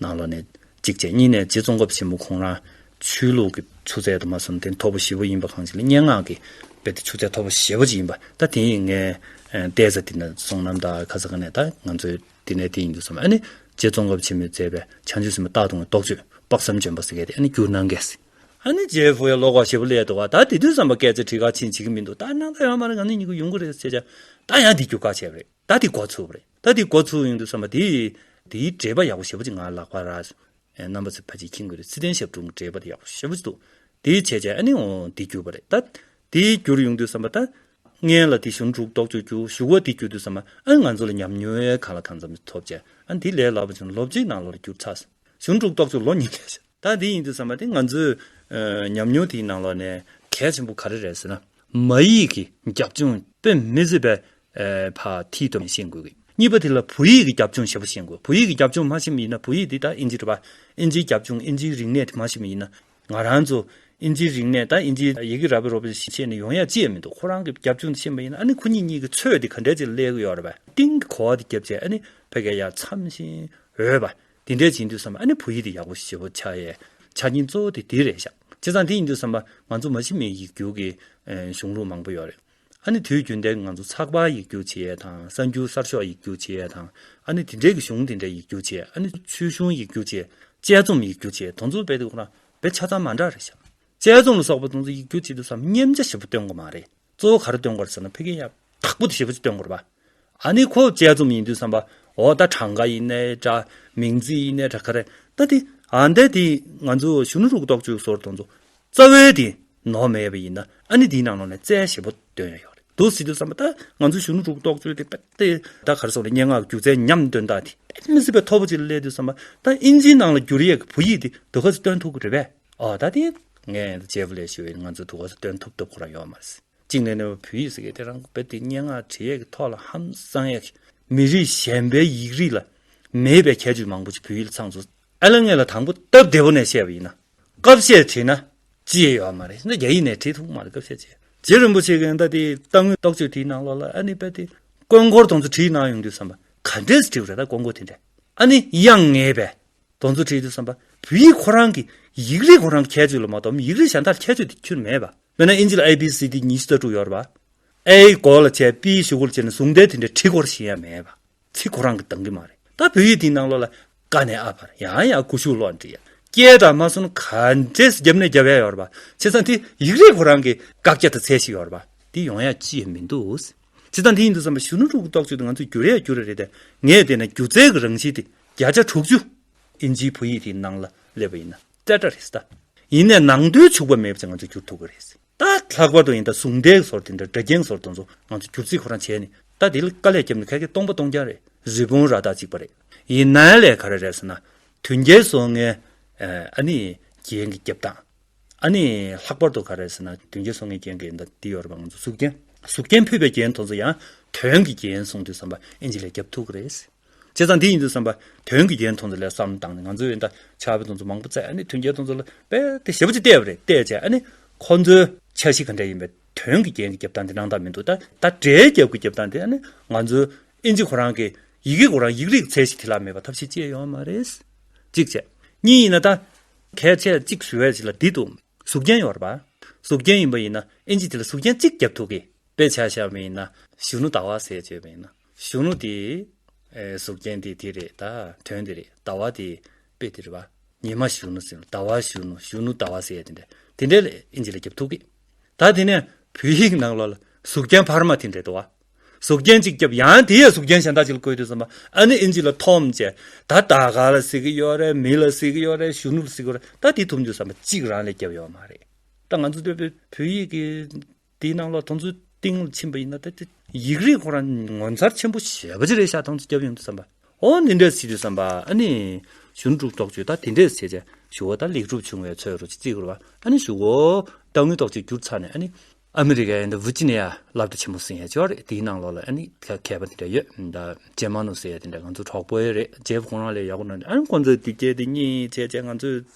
ནང་ལོག་ནས་གཅིག་བྱས་གཉིས་ནས་རྗེ་ཙོང་ཁ་པ་ཆེན་པོ་ཁོང་རང་ཆོས་ལུགས་ཀྱི་ཆུ་ཚད་དུ་མ་བསམ་སྟེ་མཐོ་པོ་བཞི་པོ་ཡིན་པ་གང་ཅི་ལ་སྙན་ངག་གི་དཔེ་དེ་ཆུ་ཚད་མཐོ་པོ་བཞི་པོ་ཅིག་ཡིན་པ་ད་དེ་ཡིན་ངས་བལྟས་ས་དེ་ནི་སོང་ནམ་ད་ཁ་ས་ག་ནས་ད་ང་ཚོའི་དེ་ནས་དེ་ཡིན་དུ་བསམ་ཨ་ནི་རྗེ་ཙོང་ཁ་པ་ཆེན་མོས་མཛད་པའི་བྱང་ཆུབ་སེམས་དཔའ་རྟག་ཏུ་ངའི་རྟོག་དཔྱོད་དཔག་བསམ་ལྗོན་པ་ཟེར་སྐད་དེ་ཨ་ནི་བསྒྱུར་གནང་སྐད་ཟེར། ཨ་ནི་རྗེ་བོ་ཡ་ལོ་ཀ་ཞེ་པོ་སླེབས་འདུག་བ་ད་དེ་དུས་བསམ་པ་སྐད་ཚེ་ཁྲི་ཁ་ཕྱིན་བྱེད་ཀྱི་མི་འདུག་ད་ནང་ད་ཡང་མ་རེད་གང་ནས་ཉིན་གུ་ཡོང་གི་རེད་ཟེར་བྱས་ད་ཡང་དེ་བསྒྱུར་ག་བྱས་པ་རེད། ད་འདི་འགོ་ཚུགས་རེད་ད་འདི་འགོ་ཚུགས་ཡོང་དུས་བསམ་པ་དེ། དེའི་འགྲེལ་པ་ཡག་པོ་ཞེ་པོ་ཅིག་ང་ལག་པ་ར། རྣམ་པ་ཚོས་ཕ་ཅིག་ཁྱི་འགོས་རེད་ཚིག་དོན་ཞབས་དྲུང་གི་འགྲེལ་པ་དེ་ཡག་པོ་ཞེ་པོ་ཅིག་འདུག་དེའི་བྱས་རྗེས་ཨ་ནི་འོ་འདི་བསྒྱུར་བ་རེད་ད། འདི་བསྒྱུར་ཡོང་དུས་བསམ་པ་ད། ངན་ལ་འདི་བཞུར་འབྲུག་རྡོག་གཅོད་རྒྱུ་བཞུགས་བ་འདི་བསྒྱུར་དུས་བསམ་པ་ཨ་ང་ཚོ་ལ་ཉམས་མྱོང་ཡལ་ག་ལ་གང་འཚམ་ཐོབ་བྱས་ཨ་འདི་ལས་ལག་པ་བྱུང་ལོ་གཅིག་ནང་ལོ་རེ་བསྒྱུར་ཚར། བཞུར་འབྲུག་རྡོག་གཅོད་ལོ་གཉིས་ལས་བྱས། ད་འདི་ཡིན་དུ་བསམ་པ་དེ་ང་ཚོའི་ཉམས་མྱོང་དེའི་ནང་ལོགས་ནས་གལ་ཆེན་པོ་ག་རེ་རེད་ཟེར་ན། མ་ཡིག་གི་རྒྱབ་ལྗོངས་དཔེ་མི་བཟོད་པའི་བར་མཐིལ་དུ་ཤེས་དགོས་གི། གཉིས་པ་དེ་ལ་བོད་ཡིག་གི་རྒྱབ་ལྗོངས་ཞེ་པོ་ཤེས་དགོས། བོད་ཡིག་གི་རྒྱབ་ལྗོངས་མ་ཤེས་མི་ཡིན་ན་བོད་ཡིག་དེ་ད་ཨིན་ཇིར་བ། ཨིན་ཇིའི་རྒྱབ་ལྗོངས་ཨིན་ཇིའི་རིག་གནས་དེ་མ་ཤེས་མི་ཡིན་ན། ང་རང་ཚོ་ཨིན་ཇིའི་རིག་གནས་ད་ཨིན་ཇིའི་ཡི་གེ་ར་བའི་རོ་བའི་ཤེས་ནས་ཡོང་ཡ་ཅི་ཡང་མི་འདུག་ཁོ་རང་གི་རྒྱབ་ལྗོངས་དེ་ཤེས་མ་ཡིན་ན་ཨ་ནི་ཁོ་གཉིས་གཉིས་ཀྱི་ཚོད་དེ་ག་འདྲ་ཅིག་སླེལ་གི་ཡོད་ར་བ། ཏིང་གི་གོ་བ་དེ་རྒྱབ་ཅིག་ཨ་ནི་བོད་སྐད་ཡ་མཚམས་བཞིན་འོས་པ། དེ་འདྲའི་བྱེད་འདོད་བསམ་པ་ཨ་ནི་བོད་ཡིག་དེ་ཡག་པོ་ཞིག་བྱེད་པོ་ཆགས་ཡས་ཆ་རྐྱེན་གཙོ་བོ་དེ་དེ་རེད་ཤག་བྱས་ཙང་དེ་ཡིན་དུས་བསམ་པ་ང་ཚོ་མ་ཕྱི་མའི་ཡིག་སྒྱུར་གྱི་གཞུང་ལུགས་མང་པོ་ཡོད་རེད་ཨ་ནི་དུས་རྒྱུན་དེ་ང་ཚོ་ཚགས་པར་ཡིག་སྒྱུར་བྱེད་ཡས་དང་གསར་འགྱུར་གསར་ཤོག་ཡིག་སྒྱུར་བྱེད་ཡས་དང་ཨ་ནི་དེ་འདྲའི་གི་གཞུང་དེ་འདྲའི་ཡིག་སྒྱུར་བྱེད་ཨ་ནི་ཚུལ་གཞུང་ཡིག་སྒྱུར་བྱེད་དཔྱད་རྩོམ་ཡིག་སྒྱུར་བྱེད་དོན་ཚོ་དཔེ་དེ་ཁོ་ན་བེད་ཆ་ཚང་མ་འདྲ་རེད་ཤག་དཔྱད་རྩོམ་ལ་སོགས་པ་དོན་ཚོ་ཡིག་སྒྱུར་བྱེད་དུས་བསམ་སྙེམས་ཆ་ཞིབ་པོ་སྟོན་དགོས་མ་རེད། གཙོ་བོ་ག་རེ་སྟོན་དགོས་ཟེར་ན་ཕི་གེ་ཡག་དག་པོ་དེ་ཞེ་བོ་ཅིག་སྟོན་དགོས་རེད་པ། ཨ་ནི་ཁོ་དཔྱད་རྩོམ་ཡིན་དུས་བསམ་པ་འོ་ད་གྲངས་ཀ་ཡིན་ནའི་འདྲ་མིང་ཚིག་ཡིན་ནའི་འདྲ་ག་རེ་ད་དེ་ཨ་འདས་དེ་ང་ཚོའི་གཞོན་ནུ་རུ་གཏོགས་ཅུ་སོར་དོན་གཙོ་རྩ་བའི་དེ་ནོར་མེད་པ་ཡིན་ན་ཨ་ནི་དེའི་ནང་ནང་ནས་རྩལ་ཞེ་བོ་སྟོན་ཡག་ཡག་རེད་འདུག་ཟེར་དུས་བསམ་པ་ད་ང་ཚོའི་གཞོན་ནུ་རུ་གཏོགས་ཅུ་དེ་པད་དེ་ད་ག་རེ་སོང་ནས་སྙན་ངག་སྒྱུ་རྩལ་ཉམས་སྟོན་དག་དེ་དཔེ་མི་སྲིད་པའི་ཐོར་བུ་ཅིག་ལ་སླེབས་དུས་བསམ་པ་ད་དབྱིན་ཇིའི་ནང་ལ་འགྱུར་ཡས་ཀྱི་བུ་ཡིག་དེ་འདོད་ག་ཚོད་སྟོན་ཐུབ་ཀི་རེད་པས། ཨོ་ད་དེ་ངས་རྗེ་བོ་ལས་ཞུ་བའི་ང་ཚོ་དུ་གོ་ས་སྟོན་ཐུབ་ཐུབ་ཁོ་རང་ཡོང་མ་རེད། གཅིག་ནས་ནོ་བྷེལ་བོད་ཡིག་ཟེར་མཁན་དེ་རང་དགོན་པའི་དེ་སྙན་ངག་བྲིས་ཡས་ཀྱི་ཐོག་ལ་ཧམ་བསང་ཡས་ཀྱི་མི་རིགས་གཞན་པའི་ཡིག་རིགས་ལ་མེད་པའི་ཁྱད་ཆོས་མང་པོ་ཞིག་བོད་ཡིག་ལ་ཚང་འཛོལ། ཨ་ལ་ངས་ལ་དང་པོ་སྟབས་བདེ་བོ་ནས་བཤད་པ་ཡིན་ན་སྐབས་བཤད་བྲིས་ན་ཅི་ཡོད་མ་རེད་རྒྱ་ཡིག་ནས་བྲིས་ཐུབ་མ་རེད་སྐབས་བཤད་བྱས་རྗེ་རིན་པོ་ཆེ་གི་ཨ་མདའ་དེའི་རྟ་དངུལ་རྟོགས་བརྗོད་དེའི་ནང་ལོགས་ལ་ཨ་ནི་དཔལ་དེ་དཀོན་འཁོར་དོང་ཚུ་བྲིས་གནང་ཡོང་དུས་བསམ་པ་ག་འདྲས་བྲིས་པ་རེད་ད་དཀོན་འཁོར་དེ་འདྲས་ཨ་ནི་དབྱངས་ངེས་པས་གདོང་ཚུལ་ཁྲིད་དུ་བསམ་པ། བོད་ཡིག་ཁོ་རང་གི་ཡིག་རིགས་ཁོ་རང་གི་ཁྱད་ཆོས་ལ་མ་གཏོགས་ཡིག་རིགས་གཞན་དག་ལ་ཁྱད་ཆོས་དེ་ཁྱེར་མེད་པ། དཔེར་ན་ཨིན་ཇི་ལ་ཨེ་བྷི་སི་ཏི་ཉི་ཤུ་རྩ་དྲུག་ཡོད་པ། ཨེ་ཡི་གོ་ལ་བྱས་པི་ཡི་ཞུ་གོ་ལ་བྱས་ནས་ཟུང་འབྲེལ་དེ་འདྲའི་ཁྲིད་སྐོར་གཞན་ཡང་མེད་པ། ཚིག་ཁོ་རང་གི་འདང་གི་མ་རེད། ད་བོད་ཡིག་འདིའི་ནང་ལོ་ལ། ཀ་ནས་ཨ་བར་ཡང་ཡང་ཀུ་ཤུ་ལོག་འབྲི། སྐད་གྲགས་མ་སོན་ག་འདྲེས་རྒྱབ་ནས་རྒྱབ་ཡ་ཡོད་པ། བྱས་ཙང་དེ་ཡིག་རིགས་ཁོ་རང་གི་བཀག་རྒྱ་དང་ཚད་ཞིག་ཡོད་པ། འདི་ཡོང་ཡ་ཅི་ཡང་མི་འདུག། བྱས་ཙང་དེ་ཡིན་དུ་བསམ་པ་གཞོན་ནུ་ཕྲུ་གུ་རྟོག་དཔྱོད་དེ་ང་ཚོས་བསྒྱུར་ཡ་བསྒྱུར་རེ་ད་ངས་བལྟས་ན་སྒྱུ་རྩལ་གྱི་རང་བཞིན་དེ་བརྒྱ་ཆ་དྲུག་ཅུ་ཨིན་ཇིའི་བོད་ཡིག་དེའི་ནང་ལ་སླེབས་པ་ཡིན་ན་སྐྲ་སྐྲ་རེད་ད། ཡིན་ནས་ནང་དོན་འཕྱུགས་པ་མེད་པ་ཅིག་ང་ཚོས་བསྒྱུར་ཐུབ་ཀྱི་རེད། ད་ལྷག་པར་དུ་ཡིན་ད་ཟུང་ལྡེག་ཟོར་དེ་འདྲ་སྒྲ་རྒྱན་ཟོར་དེ་ཚོ་ང་ཚོས་བསྒྱུར་རྩིས་ཁོ་རང་བྱས་ནས་ད་དེ་ལ་དཀའ་ལས་བརྒྱབ་ནས་ཁ་སྐད་སྟོང་པ་སྟོང་རྐྱང་རེད་རི་བོང་རྭ་དག་ཅིག་པ་རེད། ཡིན་ནའི་ལས་ག་རེ་རེད་ཟེར་ན། དོན་རྒྱལ་སོང་ངའི་ཨ་ནི་རྒྱན་གྱི་རྒྱབ་སྟངས། ཨ་ནི་ལྷག་པར་དུ་ག་རེ་ཟེར་ན་དོན་རྒྱལ་སོང་ངའི་རྒྱན་གྱི་འདི་ཡོད་རེད་པ་ང་ཚོ་གཟུགས་རྒྱན་གཟུགས་རྒྱན་ཕུད་པའི་རྒྱན་དེ་ཚོ་ཡང་དོན་གྱི་རྒྱན་སོང་དུས་བསམ་པ་ཨིན་ཇི་ལས་བརྒྱབ་ཐུབ་ཀྱི་རེད། བྱས་ཙང་འདི་ཡིན་དུ་བསམ་པ་དོན་གྱི་རྒྱན་ཐོང་ཚོ་ལས་བསམ་དང་ནི་ང་ཚོའི་འདྲ་ཆགས་པའི་ཐོང་ཚོ་མང་པོ་བཙལ་ནས་དོན་རྒྱན་ཐོང་ཚོ་ལ་དཔེ་དེ་ཞེ་པོ་ཅིག་བལྟས་པ་རེད་བལྟས་བྱས་ནི་ཁོ་ཚོའི་འཆར་གཞི་ག་འདྲ་ཡིན་པའི་དོན་གྱི་རྒྱན་གྱི་རྒྱབ་སྟངས་དེ་སྣང་དག་མི་འདུག་ད་ད་སྒྲའི་རྒྱབ་ཀྱི་རྒྱབ་སྟངས་དེ་ནི་ང་ཚོའི་ཨིན་ཇི་ཁོ་རང་གི་ཡི་གེ་ཁོ་རང་ཡིག་རིགས་ཚད་གཞི་དེ་ལ་མེད་པ་ཐབས་ཤེས་སྤྱད་ཡོང་བ་མ་རེད། གཅིག་བྱས། གཉིས་ཡིན་ན་ད། གལ་ཆེ་གཅིག་ཞུ་བའི་ཆེད་ལ་འདི་དུ་གཟུགས་རྒྱན་ཡོད་རེད་པ། གཟུགས་རྒྱན་ཡིན་པ་ཡིན་ན་ཨིན་ཇི་དེ་ལ་གཟུགས་རྒྱན་གཅིག་བརྒྱབ་ཐུབ་གི་དཔེ་ཆ་ཤར་བ་ཡིན་ན་གཞོན་ནུ་ཟླ་བ་ཟེར་བྱས་པ་ཡིན་ན། གཞོན་ནུ་དེས། གཟུགས་ཅན་དེ་དེ་རེད་ད། དོན་དེ་རེད་ཟླ་བ་དེ། དཔེ་དེ་རེད་བ། ཉི་མ་གཞོན་ནུ་ཟེར། ཟླ་བ་གཞོན་ནུ་གཞོན་ནུ་ཟླ་བ་ཟེར་དེ་འདྲ། དེ་འདྲའི་ཨིན་ཇི་ལ་རྒྱབ་ཐུག་གི། ད་དེ་ནས་བོད་ཡིག་ནང་ལོག་ལ་གཟུགས་ཅན་བར་མ་དེ་འདྲེ་དོ་བ། གཟུགས་ཅན་གཅིག་རྒྱབ་ཡང་དེ་ཡང་གཟུགས་ཅན་གཞན་དག་ཅིག་ལ་བཀོད་དུས་ཟེར་མ་ཨ་ནི་ཨིན་ཇི་ལ་ཐོམ་བཅས་ད་ད་ག་ལ་གཟིགས་ཀི་ཡོད་རེད་མི་ལ་གཟིགས་ཀི་ཡོད་རེད་གཞོན་ནུ་ལ་གཟིགས་ཀི་ཡོད་རེད་ད་དེ་ཐུབ་འདུག་ཟེར་མ་གཅིག་རང་ལས་རྒྱབ་ཡོད་མ་རེད། ད་ང་ཚོ་བོད་ཡིག་གི། དེའི་ནང་ལ་དང་ཚུལ་ཏིང་ལ་ཕྱིན་པ་ཡིན་ན་ད། ཡིག་རིགས་ཁོ་རང་ངོ་མཚར་ཆེན་པོ་ཞེས་པ་ཅི་རེད་ཤག་དང་ཚུལ་སྐྱབས་ཡོང་དུ་བསམ་པ། ཨོ་འདི་འདྲས་ཟིག་དུ་བསམ་པ་ཨ་ནི། ཞུ་འགྲུག་རྟོགས་བརྗོད་ད་དེ་འདྲས་བྱས་བྱས་ཞུ་བ་ད་ལེགས་གྲུབ་བྱུང་བའི་ཚོད་རོ་ཅིག་རྩིས་དགོས་པ་ཨ་ནི་ཞུ་བོ། ད་དངུལ་རྟོགས་བརྗོད་བསྒྱུར་ཚར་ནས་ཨ་ནི། ཨ་མི་རི་ཀའི་ད་བུར་ཅི་ནས་ཡ་ལབ་ད་ཆེན་པོ་སིང་ཡ་ཅོ་རེད་དེའི་ནང་ལོགས་ལ་ཨ་ནི་མཁས་པ་དེ་འདྲས་ཡོད་ད་ཇེ་མང་ནུ་སེ་ཡ་དེ་འདྲས་ང་ཚོ་གྲོགས་པོ་ཡོད་རེད་ཇེབ་ཁོང་རང་ལས་ཡག་པོ་ནང་འདྲ་ཨ་ནི་ཁོང་ཚོས་དེ་བྱས་དེ་གཉིས་བྱས་བྱས་ང་ཚོས།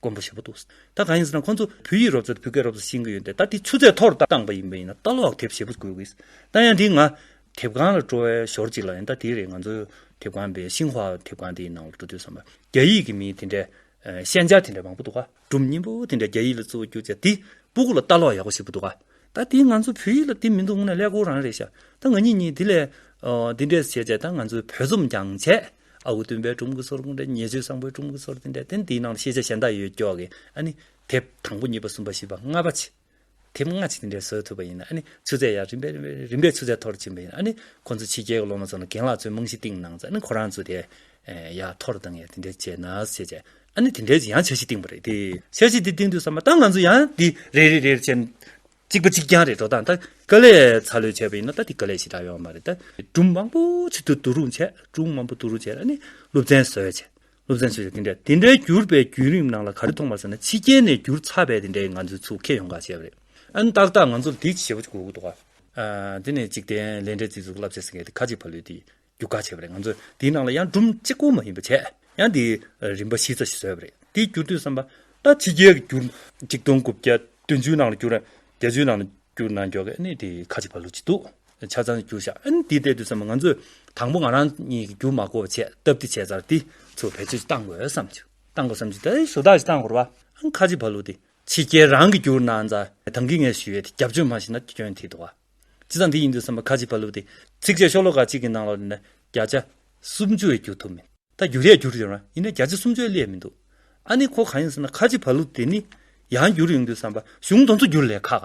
མགོན་པོ་ཞེས་པ་འདུག་ད་གང་ཡིན་ཟེར་ན་ཁོང་ཚོ་བོད་ཡིག་རོབ་ཙེ་དང་བོད་སྐད་རོབ་ཙེ་ཤེས་ཀྱི་ཡོད་འདི་ལྟར་དེ་ཆུ་ཚད་མཐོ་རུ་བཏང་པ་ཡིན་པ་ཡིན་ན་ལྟ་ལོག་དེབ་ཞེ་པོ་དགོས་ཀྱི་ད་ཡང་དེ་ང་དེབ་ཁང་ལ་སྤྲོ་བས་ཞོར་གཅིག་ལ་ཡིན་ད་དེ་རེད་ང་ཚོ་དེབ་ཁང་པས་ཤིང་ཧྭ་དེབ་ཁང་དེའི་ནང་ལ་འགྲོ་དུས་བསམ་པ་རྒྱ་ཡིག་གི་མིའི་དེ་འདྲའི་ཤན་སྦྱར་དེ་འདྲ་མང་པོ་འདུག་སྒྲུབ་སྙིང་པོ་དེ་འདྲ་རྒྱ་ཡིག་ལ་བཙུགས་བར་གྱུར་ཅེས་དེ་སྤུ་གུ་ལ་ལྟ་ལོག་ཡག་པོ་ཞིག་པོ་འདུག་ད་དེ་ང་ཚོ་བོད་ཡིག་ལ་དེ་མི་འདུག་དངོས་ནས་ཀླད་ཀོར་རང་རེད་ཤག་ད་ང་གཉིས་གཉིས་དེ་ལས་དེ་འདྲས་བྱས་བྱས་ད་ང་ཚོའི་བོད་རྩོམ་རྒྱང་བྱས། ཨ་ཁུ་སྟོན་པའི་སྒྲུང་གི་ཚོར་ཁུངས་དེ་ཉེ་ཆོས་བཟང་པོའི་སྒྲུང་གི་ཚོར་དེ་འདྲ་དེ་འདིའི་ནང་དུ་ཤེས་བྱ་གཞན་དག་ཡོད་ཀྱོག་གི་ཨ་ནི། དེབ་དང་པོ་གཉིས་པ་གསུམ་པ་བཞི་པ་ལྔ་པ། དེབ་ལྔ་གཅིག་དེ་འདྲའི་བཟོས་ཐུབ་པ་ཡིན་ན་ཨ་ནི་ཆུ་ཚད་ཡང་རིམ་པས་རིམ་པས་རིམ་པས་ཆུ་ཚད་མཐོ་རུ་ཕྱིན་པ་ཡིན་ན་ཨ་ནི། ཁོ་ཚོ་ཕྱི་རྒྱལ་གྱི་སློབ་མ་ཚོ་ནི་རྒན་ལགས་ཚོའི་རྨང་གཞི་བཏིང་གནང་ཚེ་ཨ་ནི་ཁོ་རང་ཚོ་དེ་ཡག་མཐོ་རུ་བཏང་ཡག་དེ་འདྲའི་བྱས་ནས་བྱས་བྱས་ཨ་ནི་དེ་འདྲའི་ཡང་བྱ་གཞི་བཏིང་བ་རེད་དེ། བྱ་གཞི་དེ་བཏིང་དུས་བསམ་པ་ད་ང་ཚོ་ཡང་འདི་རེ་རེ་རེ་རེ་བྱས་ནས་གཅིག་པ་གཅིག་རྐྱང་རེད་འགྲོ་སྟངས་ད་ཀ་ལས་ཚ་ལོས་བྱས་པ་ཡིན་ན་ད་དེ་ཀ་ལས་ཞེ་དྲག་ཡོང་བ་མ་རེད་ད། སྒྲུང་མང་པོ་ཆེད་དུ་བསྡུ་རུང་བྱས་སྒྲུང་མང་པོ་བསྡུ་རུང་བྱས་ལ་ནི་སློབ་ཚན་བཟོས་བྱས་སློབ་ཚན་བཟོས་བྱས་དེ་འདྲ་དེ་འདྲའི་བསྒྱུར་པའི་བརྒྱུད་རིམ་ནང་ལ་ག་རེ་མཐོང་པ་ཟེར་ན་ཕྱི་རྒྱལ་ནས་བསྒྱུར་ཚར་བས་དེ་འདྲའི་ང་ཚོའི་ཚུགས་ཁེ་ཡོང་ག་བྱས་པ་རེད་ཨ་ནི་ཏག་ཏག་ང་ཚོ་ལ་དེའི་བྱེད་པོ་གཅིག་དགོས་ཀྱི་འདུག་ག། དེ་ནས་འཇིག་རྟེན་ལས་འབྲས་རྩིས་གཟུགས་བསླབ་བྱ་ཟེར་མཁན་དེ་ཁ་ཅིག་ཕ་ལུས་དེ་རྒྱུ་ག་བྱས་པ་རེད་ང་ཚོས་དེའི་ནང་ལ་ཡང་སྒྲོམ་གཅིག་པོ་མ་ཡིན་པ་བྱས་ཡང་དེ་རིམ་པ་བཞི་རྩ་བཞི་བཟོས་པ་རེད་དེའི་རྒྱུ་དུས་བསམ་པ་ད་ཕྱི་རྒྱལ་གྱི་རྒྱུ་གཅིག་སྟོང་དགུ་བརྒྱ་བདུན་ཅུའི་ནང་ལ་རྒྱུ་ར་བརྒྱ་བཅུའི་ནང་ལ་རྒྱུ་ན་འགྱོག་གནས་དེ་ཁ་གཅིག་པ་ལོ་གཅིག་འདུག་ཆ་ཚང་རྒྱུ་བཞག་ཨན་དེ་ལྟས་དུས་བསམ་པ་ང་ཚོས་དང་པོ་ང་རང་གཉིས་ཀྱི་རྒྱུ་མ་གོ་བ་བྱས་སྟབས་དེ་བྱས་ཚར་དེ་ཚོ་བེད་སྤྱོད་བཏང་དགོས་བསམ་ཆུ་བཏང་དགོས་བསམ་ཆུ་དེ་ཞོ་དག་ཞིག་བཏང་དགོས་ར་བ་ཨན་ཁ་གཅིག་པ་ལོ་དེ་ཕྱི་རྒྱལ་རང་གི་རྒྱུ་ན་འཛའ་དང་གི་ངས་ཞུས་ཡོད་དེ་རྒྱབ་ཆོས་མ་ཞིག་ན་སྐྱོན་ཐིག་འདུག་བ། ཅི་ཙམ་འདི་ཡིན་འདུག་བསམ་པ་ཁ་ཅིག་བ་ལུགས་ཏེ། ཚིགས་བཅད་ཤོག་ལོ་ཀ་གཅིག་གི་ནང་ལ་ནི་བརྒྱ་ཆ་སུམ་ཅུ་བས་བསྒྱུར་ཐུབ་མེད། ད་བསྒྱུར་ཡས་བསྒྱུར་ཡོད་རང་ཡིན་ན་བརྒྱ་ཆ་སུམ་ཅུ་བས་བསླད་མི་འདུག་ཨ་ནི་ཁོ་གང་ཡིན་ཟེར་ན་ཁ་ཅིག་བ་ལུགས་དེ་ནི་ཡང་བསྒྱུར་ཡོང་འདུག་བསམ་པ་གཞུང་དོན་ཚུར་བསྒྱུར་ལས་ཁག་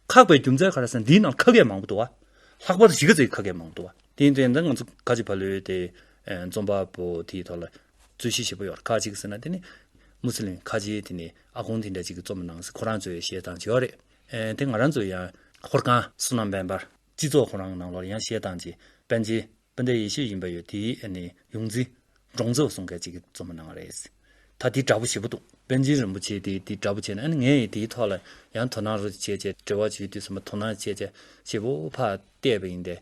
ཁག་པའི་རྒྱུ་མཚན་ག་རེ་ཟེར་ན་འདིའི་ནང་ཁ་སྐད་མང་པོ་འདུག་ཨ། ལྷག་པར་དུ་གཞིས་ཀ་རྩེའི་ཁ་སྐད་མང་པོ་འདུག་ཨ། དེའི་དོན་དུ་ང་ཚོ་ཁ་ཅིག་བ་ལུས་ཏེ་རྩོམ་པ་པོ་དེའི་ཐོག་ལ་རྩོད་གཞི་ཞེ་པོ་ཡོད་རེད་ཁ་ཅིག་ཟེར་ན་དེ་ནི་མུ་སི་ལིམ་ཁ་ཆེ་དེ་ནི་ཨ་ཁོང་དེ་འདྲ་ཅིག་གིས་རྩོམ་མ་གནང་ཟེར་ཁོ་རང་ཚོའི་བཤད་སྟངས་ཆེ་བ་རེད། དེ་ང་རང་ཚོའི་ཡང། ཧོར་ཁང་སོ་ནམ་བན་འབར་སྤྱི་ཚོགས་ཁོ་རང་ནང་ལོར་ཡང་བཤད་སྟངས་ཀྱི་པན་ཆེན་སྤུན་ཟླའི་ཡེ་ཤེས་ཡིན་པ་ཡོད་དེ་ནི་ཡོངས་འཛིན་འབྲོང་ཚོ་གསུང་སྐད་ཅིག་གི་རྩོམ་ནང་རེད་ད་དེ་འདྲ་པོ་ཞེ་པོ་འདུག་པན་ཆེན་རིན་པོ་ཆེ་དེ་དེ་འདྲ་པོ་བྱས་ན་ངས་ཡི་དེའི་ཐོག་ལ་ཡང་དོ་སྣང་རོ་བྱེད་ཅེས་འབྲེལ་བ་ཞུས་དུས་སུ་མ་དོ་སྣང་བྱེད་ཅེས་ཞེ་པོ་ཕར་བལྟས་པ་ཡིན་ཏེ་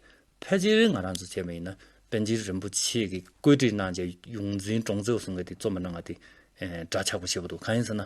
ཕལ་ཆེར་ང་རང་ཚོ་བྱས་པ་ཡིན་ན་པན་ཆེན་རིན་པོ་ཆེ་གི་བཀོད་སྒྲིག་གནང་བྱས་ཡོངས་འཛིན་འབྲོང་ཚོ་གསུང་སྐད་དེ་རྩོམ་པ་ནང་ང་དེ་འདྲ་ཆགས་པོ་ཞེ་པོ་འདུག་གང་ཡིན་ཟེར་ན།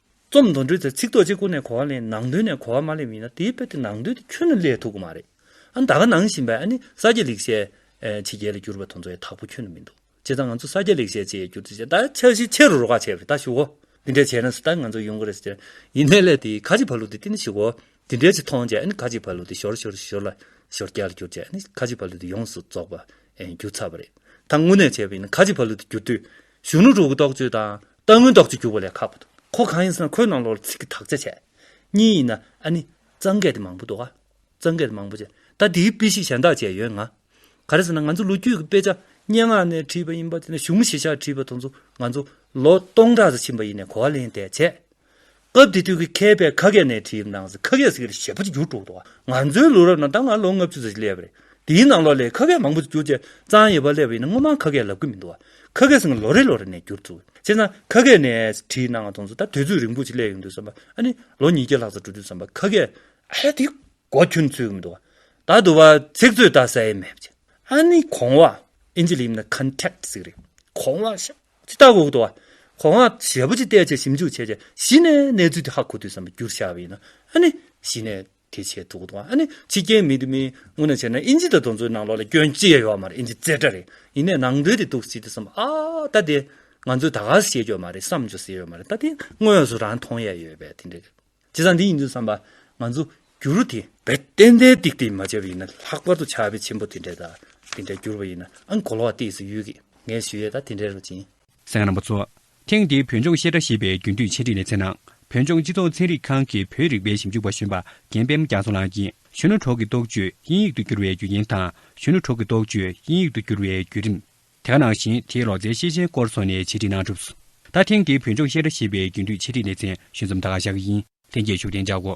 རྩོམ་མདོར་འགྲེལ་ཚེ་ཚིག་རྡོ་རྗེ་ཀུན་ནས་གོ་བ་ལས་ནང་དོན་ནས་གོ་བ་མ་སླེབས་ཡིན་ན་དེའི་དཔེ་དེ་ནང་དོན་དེ་ཁྱོན་ནས་སླེབས་ཐུབ་ཀྱི་མ་རེད། ཨ་མདའ་ག་ནང་བཞིན་པས་ཨ་ནི་ས་སྐྱ་ལེགས་བཤད་ཆེ་རྒྱལ་ལ་གྱུར་པ་དང་མཚོ་ཡི་དྭགས་པོ་ཁྱོད་ནི་མི་འདུག་བྱས་ཙང་ང་ཚོ་ས་སྐྱ་ལེགས་བཤད་ཆེ་ཡི་གྱུར་ཚེ་ཅན་ད་ཆ་གཞི་ཆེ་རུ་རོ་ཁ་བྱས་པ་རེད་ད་ཞུ་གོ་འདི་འདྲས་བྱས་ན་སུ་ལྟ་ང་ཚོ་ཡོང་གི་རེད་ཟེར་ཅན་ཡིན་ནའི་ལས་དེ་ཁ་ཅིག་བར་ལུགས་དེ་བསྟི་ན་ཞུ་གོ་འདི་འདྲས་ཅིག་མཐོང་བྱས་ཨ་ནི་ཁ་ཅིག་བར་ལུགས་དེ་ཞོར་ཞོར་ཞོར་ལ་ཞོར་སྐྱར་ལ་གྱུར་བྱས་ཨ་ནི་ཁ་ཅིག་བར་ལུགས་དེ་ཡོངས་སུ་རྫོགས་པ་གྱུར་ཚར་བ་རེད་ད་དངོས་གནས་བྱས་པ་ཡིན་ན་ཁ་ཅིག་བར་ལུགས་དེ་གྱུར་དུས་གཞུང་ལུགས་དྲུག་གི་རྟོགས་བརྗོད་དང་རྟག་མངོན་རྟོགས་ཀྱི་འགྱུར་བ་ལས་ཁག་པོ་འདུག་གོ་གང་ཡིན་ཟེར་ན་ཁོའི་ནང་ལོགས་ལ་ཚིག་གི་དག་ཆ་ཆེ། གཉིས་ཡིན་ན་ཨ་ནི། གཙང་སྐད་དེ་མང་པོ་འདུག་ཨ། གཙང་སྐད་དེ་མང་པོ་ཆེ། ད་དེའི་དཔེ་ཞིག་གཞན་དག་བྱས་ཡོད་ང། ག་རེ་ཟེར་ན་ང་ཚོ་ལོ་རྒྱུས་ཀྱི་དཔེ་ཆ་སྙན་ངག་ནས་བྲིས་པ་ཡིན་པ་དེ་ནས་གཞུང་ཞིབ་ཆ་བྲིས་པ་དང་ཚོ་ང་ཚོ་ལོ་སྟོང་ཕྲག་ཟིག་ཕྱིན་པ་ཡིན་ནས་གོ་བ་ལེན་དེ་བྱས། སྐབས་དེ་དུས་ཀྱི་མཁས་པས་ཁ་སྐད་ནས་བྲིས་ནང་གསེས་ཁ་སྐད་ཟེར་གྱི་ཞེས་པ་ཅིག་བསྒྱུར་འགྲོ་འདུག་ང་ཚོའི་ལོ་རབས་ནང་ད་སྔ་ལོ་ལྔ་བཅུ་ཙམ་ཞིག་སླེབས་པ་རེད། དེའི་ནང་ལོ་ལེགས་ཁ་སྐད་མང་པོ་ཞིག་བསྒྱུར་རྗེས་གཙང་ཡེ་བ་སླེབས་པ་ཡིན་ན་སྔོན་མ་ཁ་སྐད་ལབ་གི་མི་འདུག་བ། ཁ་སྐད་ཟེར་ནི་ལོ་རེ་ལོ་རེ་ནས་བསྒྱུར་ཚུལ། བྱས་ཙང་ཁ་སྐད་ནས་བྲིས་ནའང་དང་ཚུལ་ད་དུས་ཚོད་རིང་པོ་ཞིག་སླེབས་ཡོང་དུས་བསམ་པ་ཨ་ནི་ལོ་ཉིས་བརྒྱ་ལྷག་ཙམ་འགྲོ་དུས་བསམ་པ་ཁ་སྐད་ཨ་ཡ་དེ་གོ་ཁྱོད་ཚོས་གི་མི་འདུག་བ། ད་དུ་བ་ཚིག་མཛོད་ད་གསལ་ཡེ་མེད་བ། ཨ་ནི་གོང་བ། ཨིན་ཇི་ལ་ཡིན་ན Contact ཟེར་གི་རེད། གོང་བ་ཞེས་པ། ཅི་ལྟ་བུ་འོག་ཏུ་བ། གོ་སྔགས་ཞལ་བུ་ཅི་བལྟས་བྱས་ཞིབ་འཇུག་བྱས་བྱས་གཞི་ནས་གནས་ཚུལ་དེ་ཧ་གོ་དུས་སམ་བསྒྱུར་བྱ་བ་ཡིན་ནོ། ཨ་ནི། གཞི་ནས་དེ་བྱས་འདུག་གོ། ཨ་ནི། ཕྱི་རྐྱེན་མི་འདི་མི། དངོས་ནས་བྱས་ན་ཨིན་ཇི་དང་གདོན་ཚུལ་ནང་ལོགས་ལ་སྐྱོན་ཅི་ཡང་ཡོད་མ་རེད་ཨིན་ཇི་རྩེ་གྲ་རེད། ཡིན་ནས་ནང་དོན་དེ་འདུག་སྲིད་དུ་སོམས་ཨ། ད་དེ། ང་ཚོས་ད་ག་ཟེ་བཤད་རྒྱུ་ཡོད་མ་རེད་བསམ་རྒྱུ་ཟེ་ཡོད་མ་རེད་ད་དེ་དངོས་སུ་རང་མཐོང་ཡས་ཡོད་པས་དེ་འདྲ། ཇི་ཙམ་འདི་ཡིན་དུ་བསམ་པ་ང་ཚོ་འགྱུར་རོ་དེ། བས་ཏན་ཏན་ཏིག་ཏིག་མ་བྱས་པ་ཡིན་ན་ལྷག་པར་དུ་ཆ་བས་ཆེན་པོ་དེ་འདྲས་དང་དེ་འདྲས་འགྱུར་བ་ཡིན་ནའང་གོ་ལོག་བ་སྟེ་སུ་ཡོད་ཀི་ངས་ཞུ་ཡས་དང་དེ་འདྲས་རོ་ཅིང། སེང་རིན་པོ་ཚོ། ཐེངས་འདིའི་བོད་ལྗོངས་བཤད་གྲྭ་ཞེས་པའི་རྒྱུན་མཐུད་འཆད་ཁྲིད་ལེ་ཚན་ནང་བོད་ལྗོངས་སྤྱི་ཚོགས་ཚན་རིག་ཁང་གི་བོད་རིག་པའི་ཞིབ་འཇུག་པ་གཞོན་པ་རྒན་པད་མ་རྒྱ་མཚོ་ལགས་ཀྱིས་གཞོན་ནུ་གྲོགས་ཀྱི་རྟོགས་བརྗོད་དབྱིན་ཡིག་ཏུ་བསྒྱུར་བའི་རྒྱུ་རྐྱེན་དང་གཞོན་ནུ་གྲོགས་ཀྱི་རྟོགས་བརྗོད་དབྱིན་ཡིག་ཏུ་བསྒྱུར་བའི་བརྒྱུད་རིམ། དེ་ནང་བཞིན་དེའི་ལོ་ཙཱའི་ཤེས་བྱའི་སྐོར་སོགས་ནས་འཆད་ཁྲིད་གནང་གྲུབ། ད་ཐེངས་འདིའི་བོད་ལྗོངས་བཤད་གྲྭ་ཞེས་པའི་རྒྱུན་མཐུད་འཆད་ཁྲིད་ལེ་ཚན་ཞུ་མཚམས་ད་ག་ཞག་གི་ཡིན་ཐེངས་བརྒྱད་ཞུ་གཏན་འཇགས་གོ།